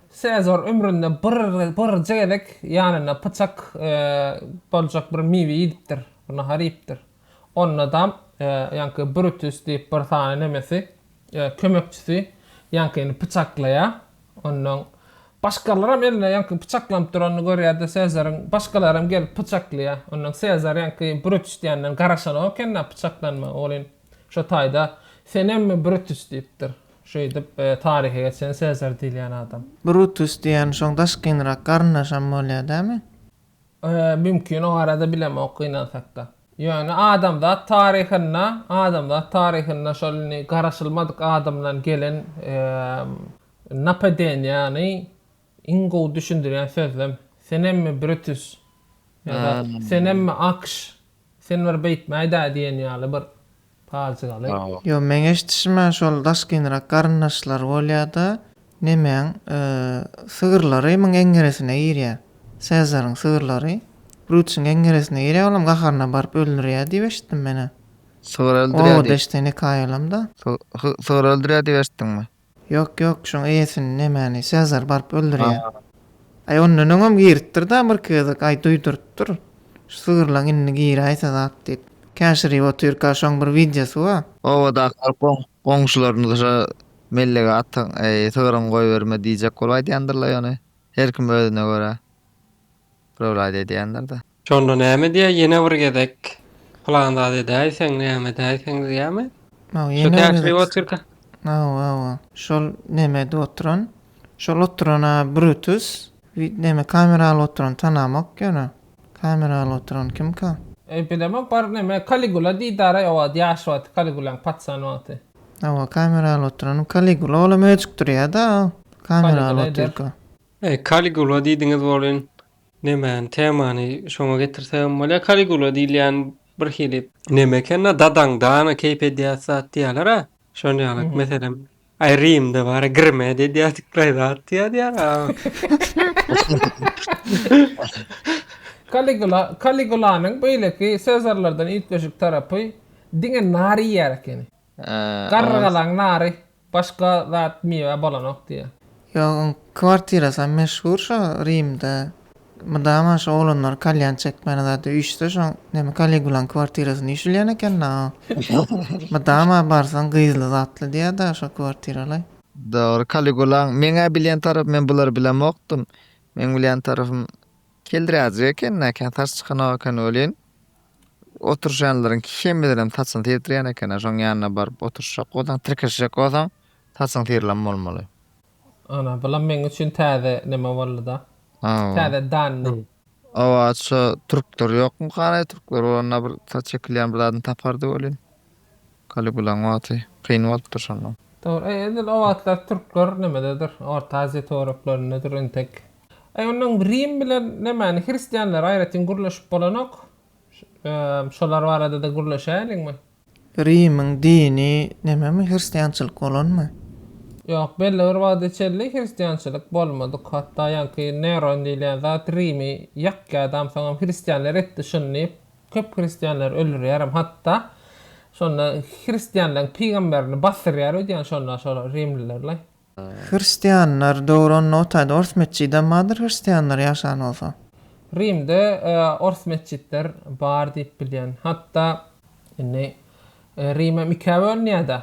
Sezar ömründe birje gezek ýanynda pyçak boljak bir miwe iýdipdir, bir nahar iýipdir. Ondadam ýaňky Brutus diýip bir sany nemesi, kömekçisi ýaňkyny pyçaklaýar. Onnoň başgalaram eline ýaňky pyçaklanyp duranyny görýär-de, Sezaryň başgalaram gelip pyçaklaýar. Onnoň Sezar ýaňky Brutus diýenden garaşanok eken-dä pyçaklanmaga welin, şo taýda Senemmi Brutus diýipdir. Şeýdip, taryha geçen Sezar diýilýän adam. Brutus diýýän şoň daşkynrak garyndaşam bolýar dämi? Mümkin, o barada bilemok, gynansakda. Ýöne adamzat taryhynda, adamzat taryhynda şol indi garaşylmadyk adamdan gelen napadeniýany Iň gowy düşündirýän sözlem Senemmi Brütüs ýa-da Senemmi Akş, sen bir beýtmäý-dä diýen ýaly bir pajygaly. Ýok, meň eşdişime şol daşkynrak garyndaşlary bolýa-da, Nemeň, sygyrlary muň eňňeresine girýä. Sezaryň sygyrlary Brütüsiň eňňeresine girýä, olam gaharyna baryp öldürýä diýip eşitdim men-ä. Sygyr öldürýä diýip. Oba deştini kaýalam-da. Sygyr öldürýä diýip eşitdiňmi? Ýok ýok şoň eýesini nemäni Sezar baryp öldürýä. Haa. Aý ondan öňem giripdir da bir gezek aý duýdurypdyr. Şu sygyrlaň indi giräýse zat diýip. Käşirip otyrka şoň bir wideosy ba. Obadakylar goň goňşylaryny şo mellege atyň eý sygyryňy goýberme diýjek bolup aýdýandyrlaý ony. Her kim özüne görä. Biröwlaý da edýändir da. Şonda näme diýä ýene bir gezek plan zat edäýseň näme edäýseň diýämi? Hawa ýene bir gezek. Otyrka. Hawa hawa. Şol nemede oturan. Şol oturana Brutus. Vid neme kamera alyp oturan tanamok ýöne. Kamera alyp oturan kimka? Epidemok bar neme Kaligula diýdara o wagt ýaş wagty Kaligulaň patyşan wagty. Hawa kamera alyp oturan Kaligula olam öjükdirýäda kamera alyp otyrka. Kaligula diýdiňiz bolýn. Nemäni, temany şoňa getirsegem bolýar. Kaligula diýilýän bir hili. Neme eken-da, dadaň dana keýp edýäs zat diýýäler-ä. Şol ýaly, meselem, aý Rimde bar-a, Grimed edýärdik bir zat diýýärdi-ýa-da. Kaligula, Kaligulanyň beýleki Sezarlardan üýtgeşik tarapy, diňe nar iýýär ekeni. Garrygalaň nary. Başga zat miwe bolanok diýýä. Ýok oň kwartirasam meşhur şo Rimde mydama şo oglanlar kalýan çekmäne zada üýşse şoň näme Kaligulaň kwartirasyna üýşülýän eken da o mydama barsaň gyzly zatly diýýä da şo kwartiralaý. Dogry Kaligulaň meň-ä bilýän tarapym men bulary bilemokdym. Meň bilýän tarapym keldräjik eken näke saç çykanok eken welin Oturyşanlaryň kimidirem saçyny syrydyrýan eken-ä, şoň ýanyna baryp oturyşjak bolsaň, tirkeşjek bolsaň, saçyň syrylan bolmaly. Ana, bulam meň üçin täze neme boldy-da. Hawa. Täze danny. Hawa, şo türkler ýokmy, garaý türkler, olar-da bir saç ekilýän bir zadyny tapardy welin. Kaligulaň wagty kyn bolupdyr şonda. Dogry, edil o wagtlar türkler nimededir, Orta Aziýa toraplarynddyr entek. Aý onnoň Rim bilen nemäni, hristianlary aýratyn gürleşip bolanok. Şolar barada-da gürleşäýeliňmi? Rimiň dini nämemi, hristiançylyk bolanmy? Ýok, belli bir wagta çenli hristiançylyk bolmadyk. Hatda ýaňky Neron diýilýän zat Rimi ýakýardam, soňam hristianlar etdi şuny diýip, Köp hristianlary öldürýärem hatda. Şonda hristianlaryň pygamberini basdyrýar öýdýän şonda şol rimlilerlaý. Hristianlar dogran Notaýda ors metjidem bardyr hristianlar ýaşan bolsa. Rimde ors metjitler bar diýip bilýän. Hatda indi Rimem ikä bölünýäda.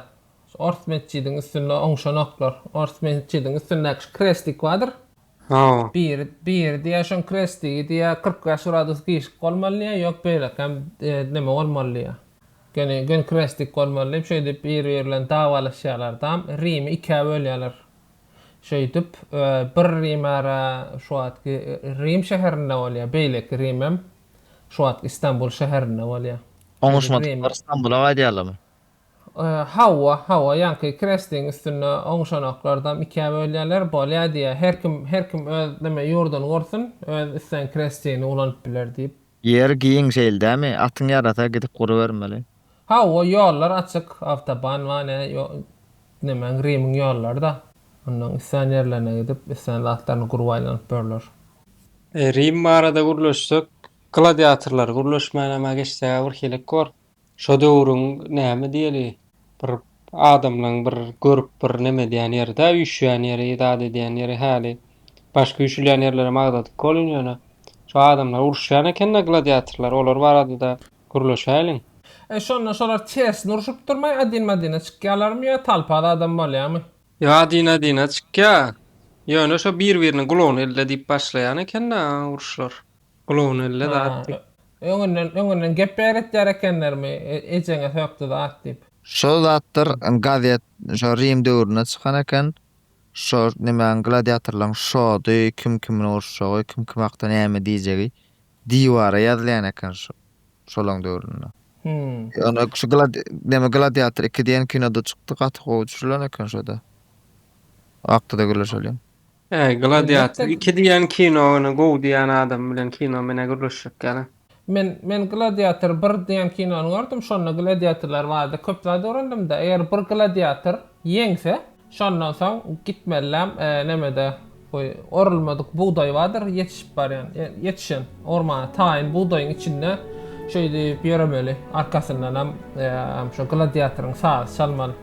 Ors metjidiň üstünde oňşanoklar. Ors metjidiň üstündäki şu kreslik bardyr. Hawa. Bir, bir diýýär, şoň kresti diýýär, kyrk bäş gradus gižik bolmaly diýýär, ýok beýlekäm neme bolmaly diýýär. Göni, göni krestik bolmaly diýip, şeýdip bir-biri bilen dawalaşýarlar dam, Rimi ikä bölýärler. Şeýdip, bir Rim ara şu wagtky Rim şäherinde bolýar, beýleki Rimem şu wagtky Istanbul şäherinde bolýar. Şeýdip Rim. Oňuşmadyklary Stambula gaýdýarlarmy? Hawa, hawa, ýaňky krestiň üstünde oňşanaklardam ikä bölýärler, bolýa diýýä, her kim, her kim öz neme ýurduny gursun, öz islän krestini ulanyp biler diýip. Ýer giň şeýle dämi, atyň ýarasa gidip gurubermeli. Hawa, ýollar açyk, awtoban bar, ne, ýo, nemäň, Rimiň ýollary-da. Onnoň islän ýerlerine gidip, islän zatlaryny gurup aýlanyp börler. Rim barada gürleşsek, gladiatorlar gürleşmänem-ä geçseg-ä birhili kor. Şo döwrüň näme diýeli bir adamlaň bir görüp bir neme edýän ýeridä üýşýän ýeri zat edýän ýeri häli başga üýşülýän ýerlerem agzadyk bolun ýöne şo adamlar uruşýan ekenda gladiatorlar olar baradada gürleşäýliň. E şonda şolar tersine urşup durmay adin madine çykýalarmy ýa talpa zadam bolýamy. Ýok adin adine çykýa ýöne şo bir biriniň gulagyny elde diýip başlaýan ekenda uruşlar. Gulagyny elle zat diýip. Öňünden, öňünden gep beýretýär ekenlermi, ejeňe sökdi zat diýip. Şol zatlar gazet şo Rim döwründe çykan eken. Şo nimäň gladiatorlaryň şody, kim kimin urşjagy, kim kim hakda näme diýjegi diwara ýazylýan eken şo şolaň döwründe. Ýöne şu gladi neme Gladiator iki diýen kinoda çykdy, gaty gowy düşürilen eken şoda. O hakda-da gürleşeliň. He gladiator Elbetde. iki diýen kino ony gowy diýen adam bilen kino menä gürleşjek ýaly. Men men gladiator bir diýen kinony gördüm şonda gladiatorlar bardy köp zat öwrendimda eger bir gladiator ýeňse şondan soň gitmeliläm nämede bu orulmadyk bugdaý bardyr ýetişip barýan ýetişen ormana taýyn bugdaýyň içinde şeýdip ýöremeli arkasyndanam şo gladiatoryň sazy çalmaly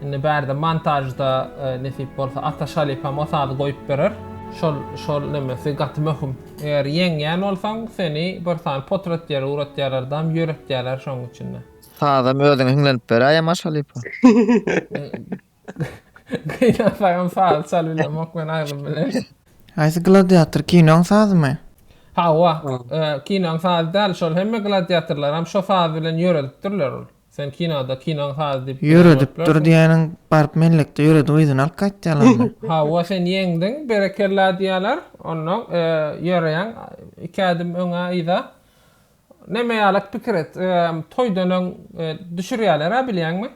Indi bärde montažda nesip bolsa Ataş halypam o sazy goýup berer. Şol şol nemesi gaty möhüm. Eger ýeňýän bolsaň seni bir sany potratýer uratýarardam ýöretýärler şoň üçinde. Sazam özüňe hiňlenip beräý Amaş halypa. Gynansaňam saz çalybilemok men aglym bilen. Haýsy gladiator kinoň sazymy. Hawa kinoň sazy däl şol hemme gladiatorlaram şo saz bilen ýöredipdirler ol. Sen kinoda kinoň saz diyip bilen görüp Ýöredip dur diýäniň baryp mellekde ýöredip yzyna alyp gaýt diýýälermi? Hawa sen ýeňdiň berekella diýýäler onda ýöreýäň iki ädim öňe yza neme ýaly pikir et toýdan öň düşürýälerä bilýäňmi?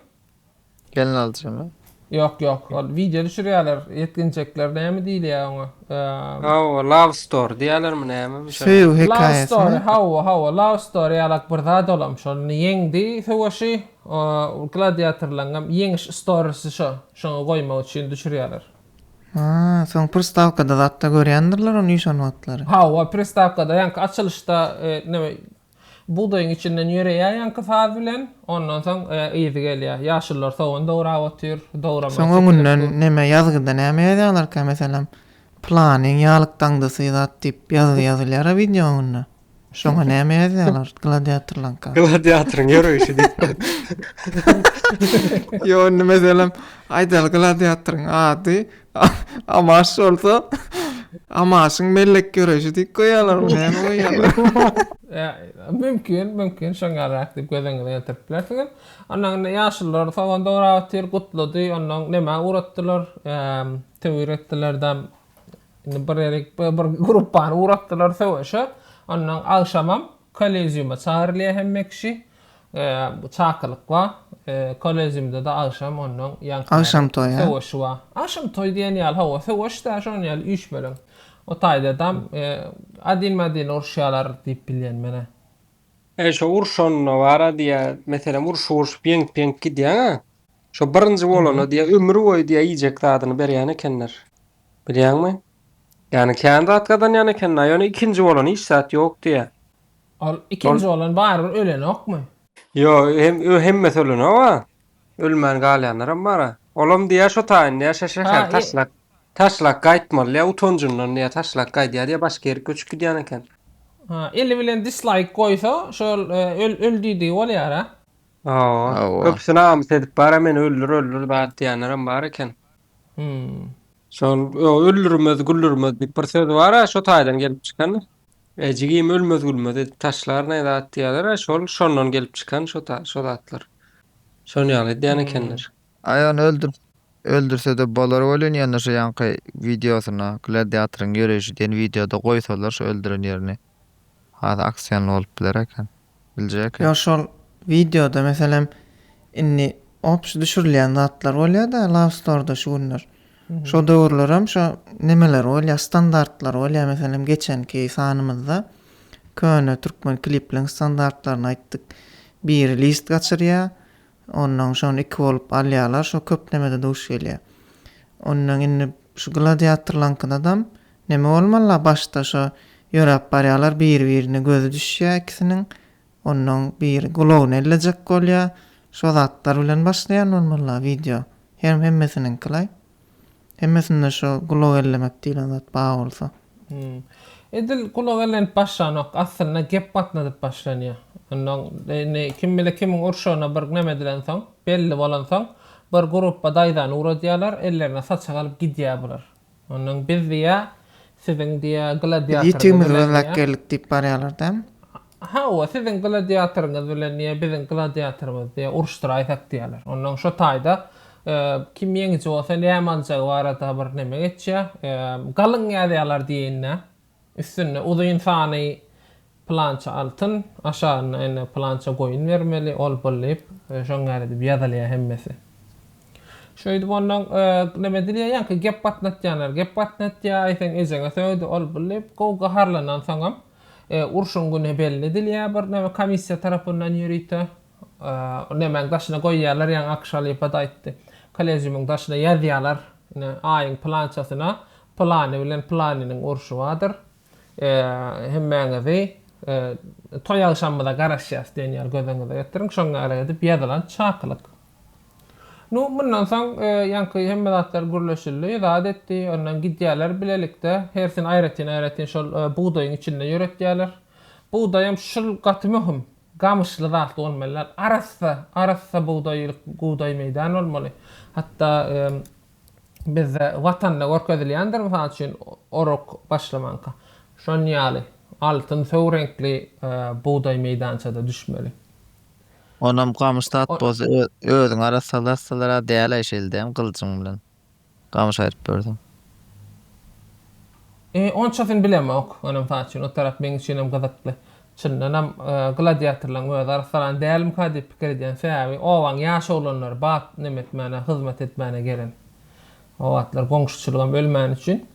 Gelin alyjymy? Ýok ýok ol wideo düşürýäler ýetginjekler näme diýilýä oňa eee. Hawa love story diýýälermi näme bir şeýle. Söýgi hekaýasymy. Love story hawa hawa love story ýalak bir zat olam şol ýeňdi söweşi eee gladiatorlaňňam ýeňiş storisy şo şoňa goýmak üçin düşürýäler. Haa soň pristawkada zatda görýändirler ony şol wagtlary. Hawa pristawkada ýaňky açylyşda eee näme Bugdaýyň içinden ýöreýär ýaňky saz bilen, ondan soň yzy gelýär. Ýaşullar sogan dograp otyr, dograma Soň öňünden neme ýazgyda näme ýazýarlarka meselem planyň ýalyk daňdasy zat diýip ýazgy ýazylýara wideoň öňünde. Şoňa näme ýazýarlar gladiatorlaňka. Gladiatoryň ýöreýşi diýip. Ýo indi meselem aýdaly gladiatoryň ady Amaş bolsa Amaşyň mellek göreşi diýip goýýarlar, näme goýýarlar. Mümkin, mümkin şoňarak diýip göz öňüňe getirip bilersiňiz. Ondan indi ýaşullar sogan dograp otyr, gutlady. Ondan nämä uratdylar? Töwir etdiler-de indi bir ýerik bir gruppany uratdylar söweşe. Ondan agşamam kolleziuma çagyrylýar hemme kişi. Çakylyk bar. Koležimde-de agşam ondan ýaňky Agşam toý, hä? Söweş bar. Agşam toý diýen ýaly, hawa, söweş-dä, şonuň ýaly üýşmeleň. O taýda-da adin-madin uruşýarlar diýip bilýän men-ä. Eý, şo urşanda bar-a diýýä, meselem, urşup urşup ýeňip-ýeňip gidýäň-ä, şo birinji bolana diýýä, ömür boýy diýýä iýjek zadyny berýän ekenler. Bilýäňmi? Ýagny kän zat gazanýan ekenler, ýöne ikinji bolana hiç zat ýok diýýä. Ol ikinji oglan barybir ölenokmy? Ýok, hem hemmesi ölenok a. Ölmän galýanlaram bar a. Olam diýýär şo taýyn diýýär şa şäheri taşlap, taşlap gaýtmaly diýýär utanjyndan diýýär taşlap gaýdýar diýýär başga ýere göçüp gidýän eken. Ha eli bilen dislaýk goýsa şol öl diýdigi bolýar a. Hawa. Köpüsi namys edip bar a meni öldür öldür zat diýýänlerem bar eken. Hum. Şol öldürmez güldürmez diýip bir söz bar a şo taýdan gelip çykan. E jigim ölmez gülmez edip taşlar ne zat diýerler a şol şondan gelip çykan şo ta şo zatlar. Şon ýaly edýän Hmm. ekenler. Aý ony öldür öldürsede bolar welin ýöne şu ýaňky wideosyna gladiatoryň ýöreýşi diýen wideoda goýsalar şu öldüren ýerini has aksionly bolup biler eken. biljek. Ýok şol wideoda meselem indi obşi düşürilýän zatlar bolýada laustorda şu günler. Şo döwürlerem şo nemeler bolýa standartlar bolýa meselem geçenki sanymyzda köne türkmen klipliň standartlaryny aýtdyk biri list gaçyrýa Onnoň şony iki bolup alýarlar, şo köplemede duş gelýär. Onnoň indi şu gladiatorlaňkydadam neme bolmaly-la, başda şo ýöräp barýarlar, biri-birine gözi düşýär ikisiniň, onnoň biri gulagyny ellejek bolýar, şo zatlar bilen başlaýan bolmaly-la wideo, hem hemmesiniňki-laý. Hemmesinde şu gulak ellemek diýlen zat bar bolsa. Hum. Edil gulak ellenip başlanok, aslynda gep gatnadyp başlanýar. Ondan indi kim bilen kimiň urşagyna bir näme edilensoň, belli bolansoň, bir grupba daýzany ugradýarlar, ellerine saçak alyp gidýär bular. Ondan biz diýýär, siziň diýýär, gladiator Biz ýitigimiz bilen lak geldik diýip barýarlar dämi? Hawa, siziň gladiatoryňyz bilen niýe biziň gladiatorymyzy diýe uruşdyraýsak diýýärler. Onnoň şo taýda kim ýeňiji bolsa näme aljagy barada bir neme geçýär. Galyň ýazýarlar diýeýin-dä. Üstünde uzyn sany pylança altyn, aşagynda ine pylança goýun bermeli, ol bul diýip, şoň ýaly edip ýazylýar hemmesi. Şeýdip onnoň neme edilýär, ýaňky gep gatnatýarlar. Gep gatnatýar, aýseň ejeňe sögdi, ol bul diýip, gowy gaharlanansoňam, Urşuň güni belli edilýär bir näme komissiýa tarapyndan ýörite. Nämäň daşyna goýýarlar ýaňy Akyş halypa-da aýtdy. Kolleziumyň daşyna ýazýarlar ine aýyň pylançasyna pylany bilen pylanynyň urşy bardyr. Hemmäňizi toý agşamymyza garaşýarys diýen ýaly gözüňize getiriň. Şoňa gara edip ýazylan çakylyk. Nu, mundan soň ýaňky hemme zatlar gürleşildi, zat etdi, ondan gidýärler bilelikde, hersini aýratyn-aýratyn şol bugdaýyň içinde ýöretýärler. Bugdaýam şul gaty möhüm, gamyşly zat bolmaly däl, arassa, arassa bugdaýlyk bugdaý meýdan bolmaly. Hatda bizde Watanda görkezilýändir, mysal üçin, orak başlamanka, şon ýaly, altyn söw reňkli bugdaý meýdançada düşmeli. Onam gamyş zat bolsa özüň arassalarsalar-a däl-aý şeldem gylyjyň bilen gamyş aýryp berseň. E, onçasyny bilemok, onam saç üçin o tarap meň üçinem gyzykly. Çyndanam, gladiatorlaryň özi arassalan dälmika diýip pikir edýän. Sebäbi obaň ýaş oglanlary bat neme etmäne, hyzmat etmäne gelen. O wagtlar goňşuçylygam ölmäni üçin.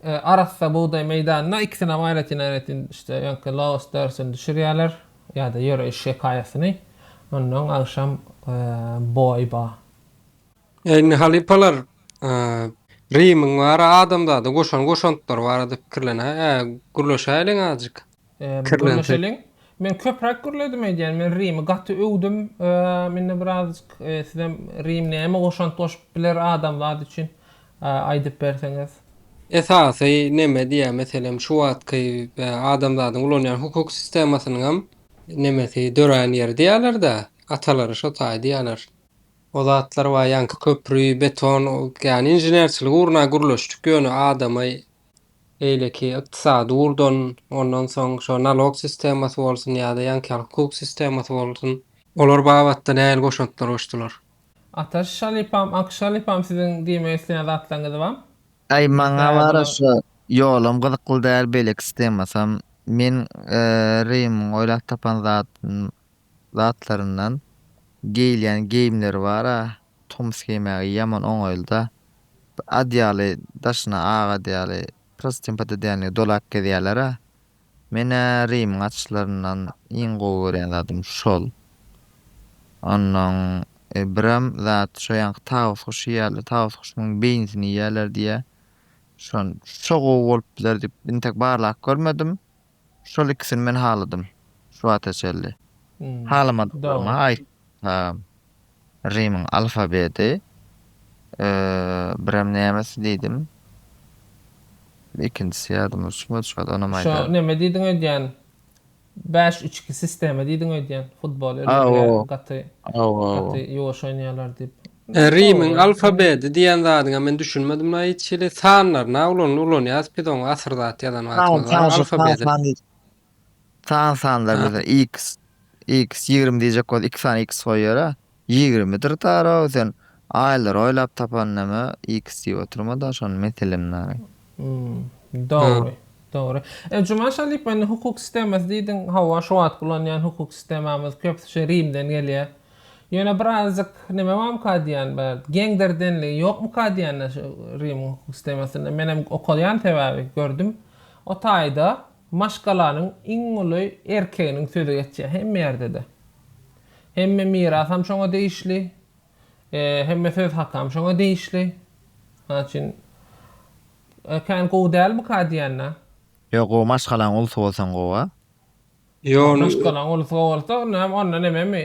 Arassa bugdaý meýdanyna ikisinam aýratyn-aýratyn işte öňki laos dörsüni düşürýärler ýa-da ýöreýiş hekaýasyny. Onnoň agşam boý ba. Indi halypalar Rimiň we ara adamzada goşan goşantlary barada pikirlenä, gürleşäýeliň azajyk. Gürleşeliň. Men köpräk gürledim eýdýän. Men Rimi gaty öwdüm. Mende birazajyk sizem Rim näme goşant goşup biler adam zat üçin aýdyp berseňiz. Esasy neme diýýän meselem şu wagtky adamzadyň ulanýan hukuk sistemasynyňam nemesi dörän ýeri diýýälerdä. Atalary şo taý diýýäler. O zatlar bar ýaňky köpri, beton, ýany inženerçilik ugruna gürleşdik ýöne adama beýleki ykdysady ugurdan, ondan soň şo nalog sistemasy bolsun ýa-da ýaňky hukuk sistemasy bolsun, olar babatda nähili goşantlar goşdular? Ataş Şalypam, Ak Şalypam siziň diýmek isleýän zatlaryňyz bam? Aý maňa Bä wara bular. şo ýolam gyzykly däl beýleki stemasam men Rymyň oýlap tapan zatyn zatlaryndan geýilýän geýimleri bara. Tomus geýmäge ýaman oňaýlyda. Bir at ýaly, daşyna ak at ýaly prostynýa podedenlige dolap gezýärler-ä. Men-ä Rimiň açyşlaryndan iň gowy görýän zadym şol. Onnoň birem zat şo ýanky tawus guşy ýaly, tawus guşunyň beýnisini iýýärler diýýär. Şon, şo gowy bolup biler diýip, intek barlap görmedim. Şol ikisini men haladym şu wagta çenli. Halamadyklarymy aýtsam, Rimiň alfabedi, birem nämesi diýdim. Ikinjisi ýadyma düşmedi şu wagt, onam aýdaryn. Şu näme diýdiň öýdýän? Bäş, üç, iki sistema diýdiň öýdýän. Futbol öýdýän gaty gaty ýuwaş oýnaýarlar diýip. Rimiň alfabedi diýen zadyňa men düşünmedim la hiç hili. Sanlaryna ulan ulanýas biz oňa asyr zat ýazan wagtymyz bar alfabedi. San sanlar bize X X ýigrimi diýjek bolsa iki sany X goýýara. Ýigrimidir taraw sen aýlary oýlap tapan näme X diýip oturma da şony meselem naýy. Dogry. Dogry. E Juman Şalypow indi hukuk sistemasy diýdiň hawa şu wagtky ulanýan hukuk sistemamyz köpüsi şu Rimden gelýär. Ýöne bir azajyk neme barmyka diýýän bir geňdirdenligi ýokmyka diýýän-de şu Rimiň hukuk sistemasynda. Menem okaýan sebäbi gördüm. O taýda maşgalanyň iň uly erkeginiň sözi geçýär hemme ýerde-de. Hemme mirasam şoňa degişli. Hemme söz hakam şoňa degişli. Şonuň üçin kän gowy dälmika diýýän-de. Ýok gowy maşgalaň ulsy bolsaň gowa. Ýone. Ruskalaň ulusy bolsa näme onda nememi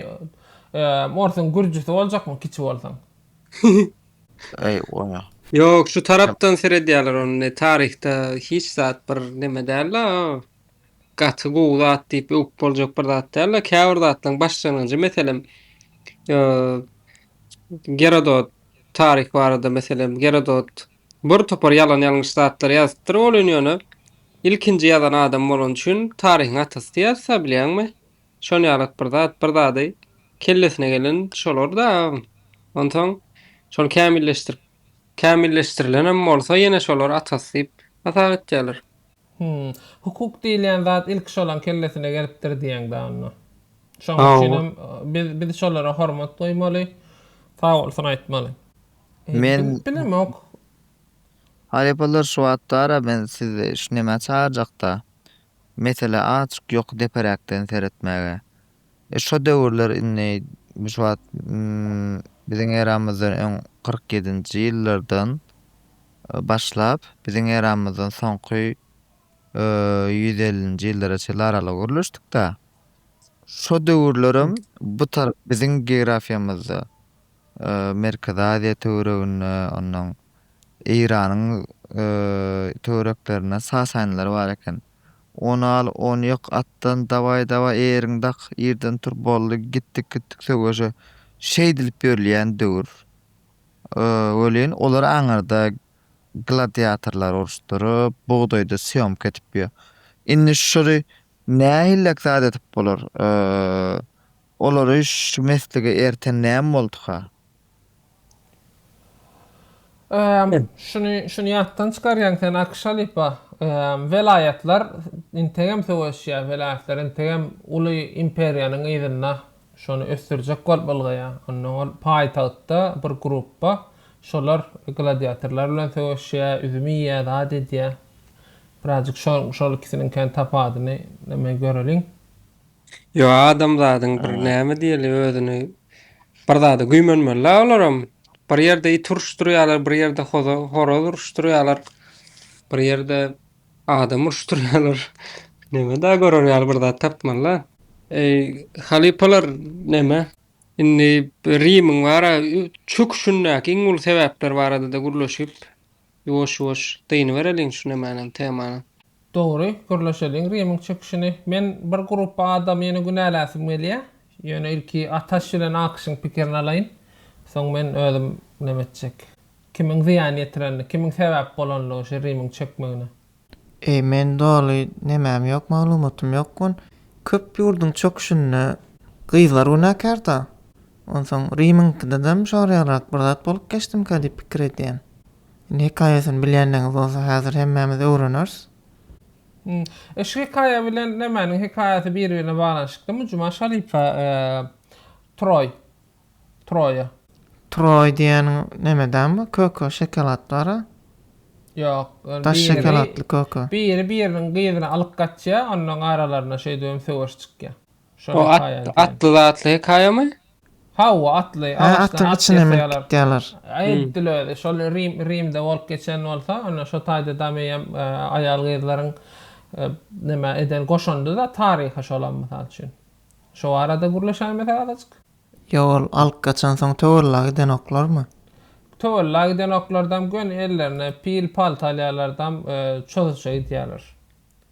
eee orsuň gürjisi boljakmy kiçi bolsaň. Eý goýma. Ýok şu tarapdan seredýäler ony ne taryhda hiç zat bir neme däl la o gaty gowy zat diýip öwüp boljak bir zat däl la käbir zatlaryň başlangyjy meselem eee Gerodot taryh barada meselem Gerodot Bir topar ýalan ýalňyş zatlar ýazypdyr ol ün ýöne ilkinji ýazan adam bolany üçin taryhyň atasy diýersa bilýäňmi şon ýalat bir zat bir zady kellesine gelen şolar da onsoň şony kämilleşdirip kämilleşdirilenem bolsa ýene şolar atasy diýip hasap etýäler. Hum. Hukuk diýilýän zat ilki şolaň kellesine gelipdir diýeň da onda. Şoň üçinem biz biz şolara hormat goýmaly. Sag bolsun aýtmaly. Men Bilip bilemok. Halypalar şu atdara men sizi şu nämä çagyrjakda? Mesele azjyk ýoky deperäkden seretmäge. E şo döwürler indi bu şu wagt biziň eramyzdan öň kyrk ýedinji ýyllardan başlap biziň eramyzdan soňky ýüz ellinji ýyllara çenli aralygy gürleşdikdä. Şo döwürlerem bu tarap biziň geografiýamyzda Merkezi Aziýa töwereginde, onnoň Eýranyň töwereklerinde sasanlar bar eken. Ony al, ony ýyk, atdan dawaý, dawaý, eýeriňi dak, ýerden tur, boldy, gitdik, gitdik söweşe. Şeýdilip ýörilýän döwür. Welin, olar aňyrda gladiatorlary uruşdyryp, bugdaýda sýomka edip ýör. Indi şury nähillek zat edip bolar? Olar üýş şu meslige erten näme bolduka? Öööm şuny şuny ýatdan çykarýaň sen Akşalipa ööööm welaýatlar integem söweşýä welaýatlar integem uly imperiýanyň yzynda şony ösdürjek bolup ylgaýa onnoň ol paýtagtda bir gruppa şolar gladiatorlar bilen söweşýä üzüm iýýä zat edýä birazjyk şo şol ikisiniňkäni tapadyny neme göreliň. Ýo adamzadyň bir näme diýeli özüni bir zada güýmenmeli la olaram bir ýerde it uruşdurýalar bir ýerde hoza horaz uruşdurýalar bir ýerde adam uruşdurýalar näme da görer ýaly bir zat tapmaly la. Eý halypalar näme indi Rimiň bara çöküşindäki iň uly sebäpler barada-da gürleşip Ýuwaş ýuwaş dynybereliň şu nemäniň temanyň. Dogry gürleşeliň rimiň çekişini. Men bir grupba adamy ýene günäläsim gelýä. Ýöne ilki Ataş bilen Akyşyň pikirini alaýyn. Soň men özüm neme etjek. Kimiň zyýan ýetirenini, kimiň sebäp bolanlygy şu rimiň çekmegine. Eý men doly nemäm ýok maglumatym ýok gun köp ýurduň çöküşinde gyzlar günäkärda onsoň rimiňkidedem şorýagrak bir zat bolup geçdimka diýip pikir edýän indi hekaýasyny bilýänleňiz bolsa häzir hemmämiz öwreneris. Hmmm şu hekaýa bilen nämäniň hekaýasy bir birine baglanyşyklymy Juma Şaripa Troý. Troýa. Troý diýeniň neme däl bu köke şokolad bara. Ýok, ol Daş biri şokoladly köke. biri biriniň gyzyny alyp gaçýa, onnoň aralarynda şeýdibem söweş çykýa. Şol O at, hekaýa diýen. atly zatly hekaýamy? Hawa, atly, Hä, agaçdan atdyň at içine menip ýasaýarlar. gitýärler. Edil özi, şol Rim, Rimde bolup geçen bolsa, onda şo taýda dameýem aýal-gyzlaryň neme eden goşandy-da taryha şolam mysal üçin. Şo barada gürleşäýmesek azajyk? Ýok ol alyp gaçansoň töwella gidenoklarmy? Töwella gidenoklardam göni ellerine pil palta alýarlardam çozuça gidýärler.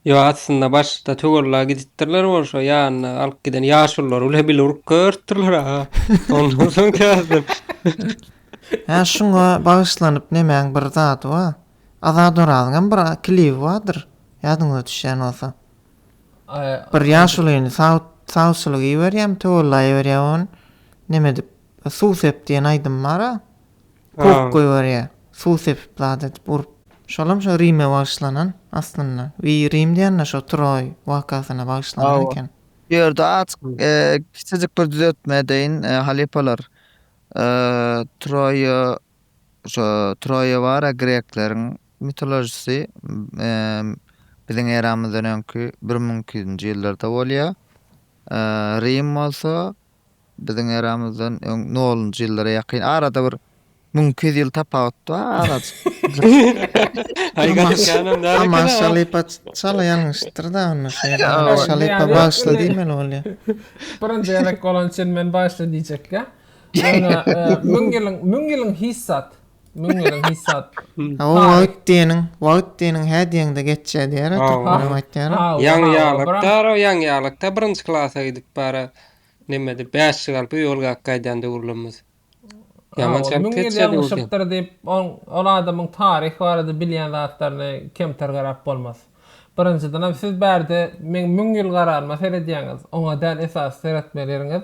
Ýok aslynda başda töwella gidipdirler ol şo ýanyna alyp giden ýaşululary bile bile urup görüpdirler aga. Ondan soň täzeden. Hä şuňa bagyşlanyp nemäň bir zady bar. Azat Orazyňam bir klibi bardyr ýadyňyza düşýän bolsa. Bir ýaşulyny sawçylyga iberýän, töwellaýberýär ony. Neme edip, suw sep diýen aýdym bar-a. Kok goýberýär. Suw sepip zat edip urup. Şolam şo Rime bagyşlanan aslynda. We Rim diýende şo Troý wakasyna bagyşlanan eken. Bu ýerde azk kiçijik bir düzeltme edeýin. Halypalar Troýa Şu Troýawara grekleriň mitolojisi biziň eramyzdan öňki bir müň iki ýüzünji ýyllarda bolýar. Rim bolsa biziň eramyzdan öň nolunjy ýyllara ýakyn. Arada bir müň iki ýüz ýyl tapawut bar arajyk. Aman Şalypa çala ýalňyşdyr-da onda şeýle. Aman Şalypa bagşy diýmeli bolýar. Birinji gezek bolan üçin men bagşy diýjekkä. Ýöne müň ýylyň, müň ýylyň hiç zat, müň ýylyň hiç zat. Hawa, wagt diýeniň, wagt diýeniň hä diýeňde geçýär diýer-ä türkmenem aýtýar. Ýaňy ýalakdar-ow, ýaňy ýalakda birinji klasa gidip bara, nemede bäş ýyl galyp öý algak gaýdan döwürlerimiz. Ýaman çalt geçýär döwürler. Müň ýyl ýalňyşypdyr diýip, ol adamyň taryh barada bilýän zatlaryna kemter garap bolmaz. Birinjidenem siz bärde meň müň ýyl garanyma seredýäňiz, oňa däl esasy seretmeli ýeriňiz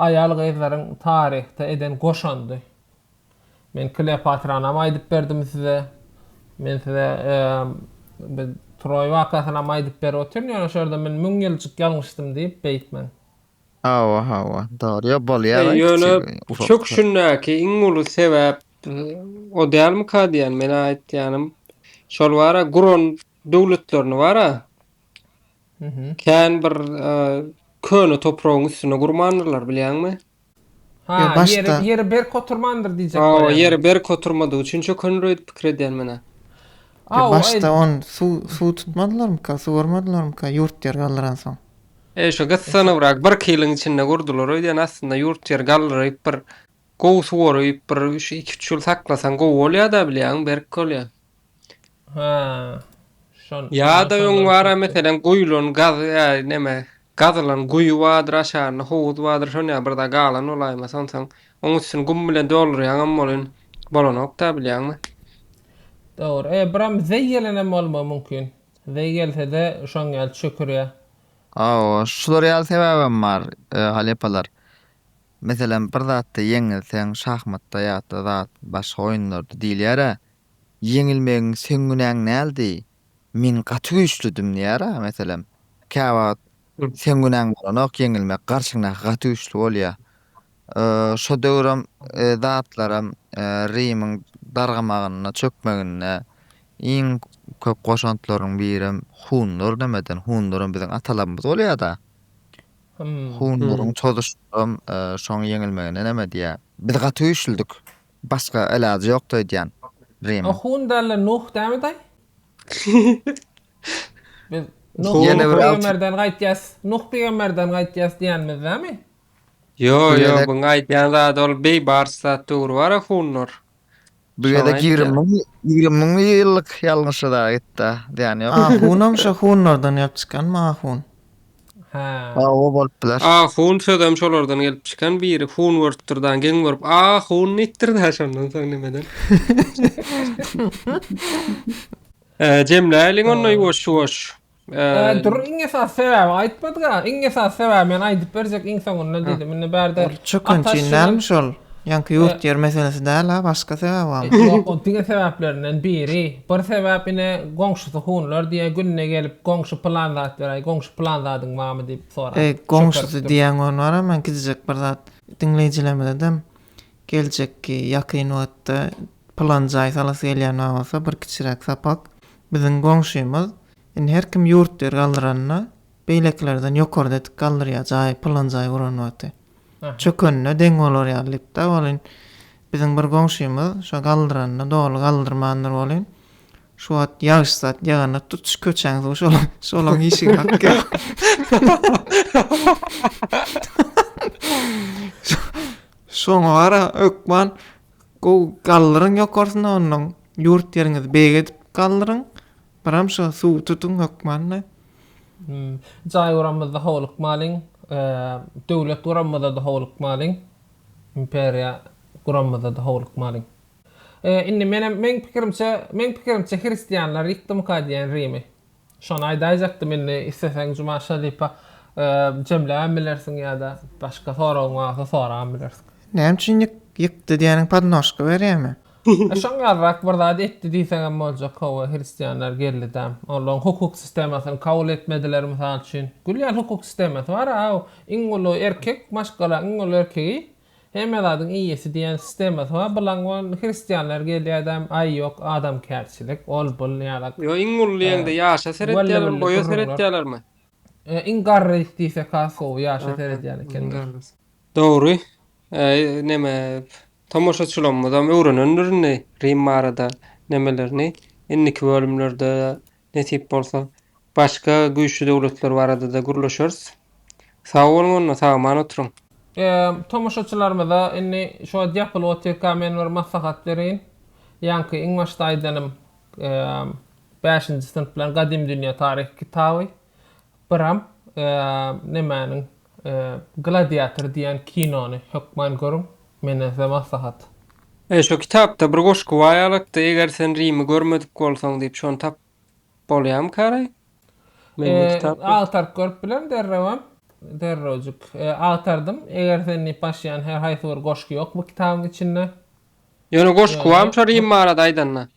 aýal-gyzlaryň taryhda eden goşandy. Men Kleopatranam aýdyp berdim size. Men size bi Troý wakasynam aýdyp berip otyryn, ýöne şu ýerde men müň ýyljyk ýalňyşdym diýip beýtmäň. Hawa, hawa, dogry. Ýok, bolýar-aý kiçi, Ýöne bu ufak. çöküşindäki iň uly sebäp O dälmika diýýän, men aýtýanym, şol bar-a, guran döwletlerini bar-a, kän bir köne topragyň üstüne gurmandyrlar, bilýäňmi? Ha, ýeri, ýeri berk oturmandyr diýjek bolýan. Hawa, ýeri berk oturmadygy üçin çökendir öýdüp pikir edýän men-ä. Ýa başda on suw, suw tutmadylarmyka, suwarmadylarmyka ýurt ýer galdyransoň? E, şu gyssanybrak birki ýylyň içinde gurdular öýdýän, aslynda ýurt ýer galdyryp bir Gowy suwaryp bir şu iki üç ýyl saklasaň gowy bolýada bilýäňmi berk bolýa. Ha. Şon. Ýada öň bara meselen guýulan gaz ýa neme gazylan guýy bardyr aşagynda howuz bardyr şon ýa bir zat galan bolaýma sonsaň oň üstüni gum bilen doldurýaňam bolyn bolanokda bilýäňmi. Dogry. E biram zeý gelenem bolma mümkin. Zeý gelsede şoň ýaly çökürýa. Hawa şular ýaly sebäbem bar halepalar. Meselem, bir zatda ýeňilseň, şahmatda ýa-da zat başga oýunlarda diýilýär-ä, Ýeňilmegiň seň günäň däldi, men gaty güýçlüdim diýýär-ä, meselem. Käwagt seň günäň bolanok, ýeňilmek garşyňdaky gaty güýçli bolýar. Şo döwürem zatlaram Rimiň dargamagynda, çökmeginde iň köp goşantlaryň birem hunlar nämeden, hunlaram biziň atalarymyz bolýar-da. Hunlaryň çozuşyndam şoň ýeňilmegine näme diýýär? Biz gaty güýçlüdik. Başga ilajy ýokdy öýdýän Rimiň. Hun dälle Nuh dämi daý? Biz Nuh pygamberden gaýtýas, Nuh pygamberden gaýtýas diýýänmiz dämi? Ýo, ýo, buň aýdýan zady ol beýbars zat dogry bara hunlar. Bu gezek ýigrimi müň, ýigrimi müň ýyllyk ýalňyşa dagy gitdi, zyýany ýok. Ahunam şo hunlardan gelip çykanmy ahun? Hä. Hawa bolup biler. Ahun sözem şolardan gelip çykan biri hun görüpdir da geň görüp ahun diýipdir da şondan soň nimeden. Jemläýliň onda ýuwaş ýuwaş. Dur iň esas sebäbi aýtmadyga. Iň esas sebäbi men aýdyp berjek iň soňunda diýdim. Indi bärde Ol çökünçin dälmi şol? Ýaňky ýurt ýer meselesi däl-ä, başga sebäbi barmy? Ýok, ol diňe sebäplerinden biri. Bir sebäp ine goňşusy hunlar diýýä, günde gelip goňşy pylan zat beräý, goňşy pylan zadyň barmy diýip soraýar. Eý, goňşusy diýýäň bolmara, men gidijek bir zat diňleýjilerimize dem Geljekki, ýakyn wagtda pylan jaý salasy gelýän maňa bolsa bir kiçiräk sapak. Biziň goňşymyz, indi her kim ýurt ýer galdyranda beýlekilerden ýokarda edik galdyrýar jaý, pylan jaý guran wagty. Çökenine deň bolar ýaly diýipdi-ä welin, biziň bir goňşymyz şo galdyranda doly galdyrmandyr welin, şu wagt ýagyş zat ýaganda tutuş köçäň suwy şola, şolaň işigi akýar. Şoňa gara hökman gowy galdyryň ýokarsyna onnoň ýurt ýeriňizi beýik edip galdyryň. Biram şo suwy tutuň hökman-da. Jaý guramyzda howlukmalyň. Döwlet guramyzda-da howlukmalyň. Imperiýa guramyzda-da howlukmalyň. Indi menem meň pikirimçe meň pikirimçe hristianlar ýykdymyka diýýän Rimi. Şony aýdaýjakdym indi isleseň Juma Şeripe jemläbem bilersiň ýa-da başga soragyň barsa sorabam bilersiň. Näme üçin ýyk ýykdy diýeniň podnožka berýärmi? Şoň ýalyrak bir zat etdi diýseňem boljak hawa hristianlar geldidäm olaň hukuk sistemasyny kabul etmediler mysal üçin gülýän hukuk sistemasy bar a iň uly erkek maşgalaň iň uly erkegi Hemme zadyň eýesi diýen sistemasy bar, bulaň ol hristianlar gelýädäm, aý ýok, adamkärçilik, ol bul ýaly. Ýa iň uly diýeňde ýaşa seretýälermi, boýa seretýälermi? Iň garrys diýsek has gowy, ýaşa seredýän ekenler. Dogry, neme, tomaşaçylarymyzam öwrenendir indi Rim barada nemelerini, indiki bölümlerde Nesip bolsa, başga güýçli döwletler barada-da gürleşeris. Sag boluň onda, sag-aman oturyň! Tomaşaçylarymyza indi şo diapl otyrka men bir maslahat bereýin. Ýaňky iň başda aýdanym bäşinji synp bilen Gadymy dünýä taryhy kitaby. Bram, nemäniň, Gladiator diýen kinony hökman görüň, menden size maslahat. E, şo kitapda bir goşgy bar ýalakda, Eger sen Rimi görmedik bolsaň diýip, şony tapyp bolýamykaraý? Men bu kitap ýok. Agtaryp görüp bilerin derrewem. Derrewjik agtardym. Eger sen diýip başlaýan her haýsy bir goşgy ýok bu kitabyň içinde. Ýöne goşgy barmy şo Rim barada aýdanda?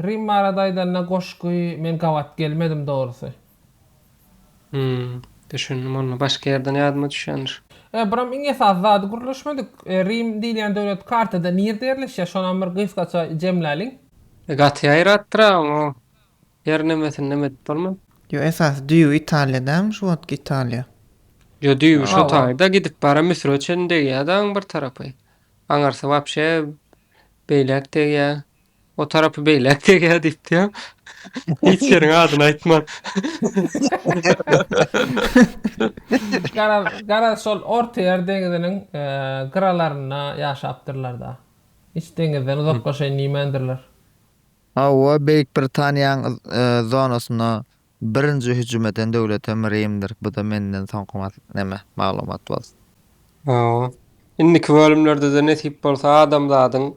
Rim barada aýdanda goşgy men gabat gelmedim dogrusy. Hümm. Düşündim onda başga ýerden ýadyma düşýändir. E biram iň esasy zady gürleşmedik. E Rim diýilýän döwlet kartada nirde ýerleşýär şonam bir gysgaça jemläliň. E gaty ýaýratdyra oň o ýer nemesini neme edip bolman. Ýo esasy düýbi Italiýa dälmi şu wagtky Italiýa. Ýo düýbi şo taýda gidip bara Müsüre çen degýä da aň bir tarapy. Aňarsy wapşe beýläk degýä. O tarapy beýläk degýär diýipdem. Hiç ýeriň adyny aýtman. Garaz, garaz şol Ortaýer deňiziniň gyralarynda ýaşapdyrlar-da. Hiç deňizden uzaklaşaýyn diýmändirler. Hawa, Beýik Britaniýanyň zonasynda Birinji hüjüm eden döwletem Rimdir, bu-da menden soňky mas neme, maglumat bolsun. Hawa. Indiki bölümlerde-de nesip bolsa adamzadyň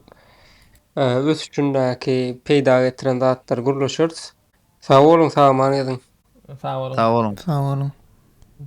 ösüşindäki peýda getiren zatlary gürleşeris. Sag boluň, salama ýazyň. Sag boluň. Sag boluň.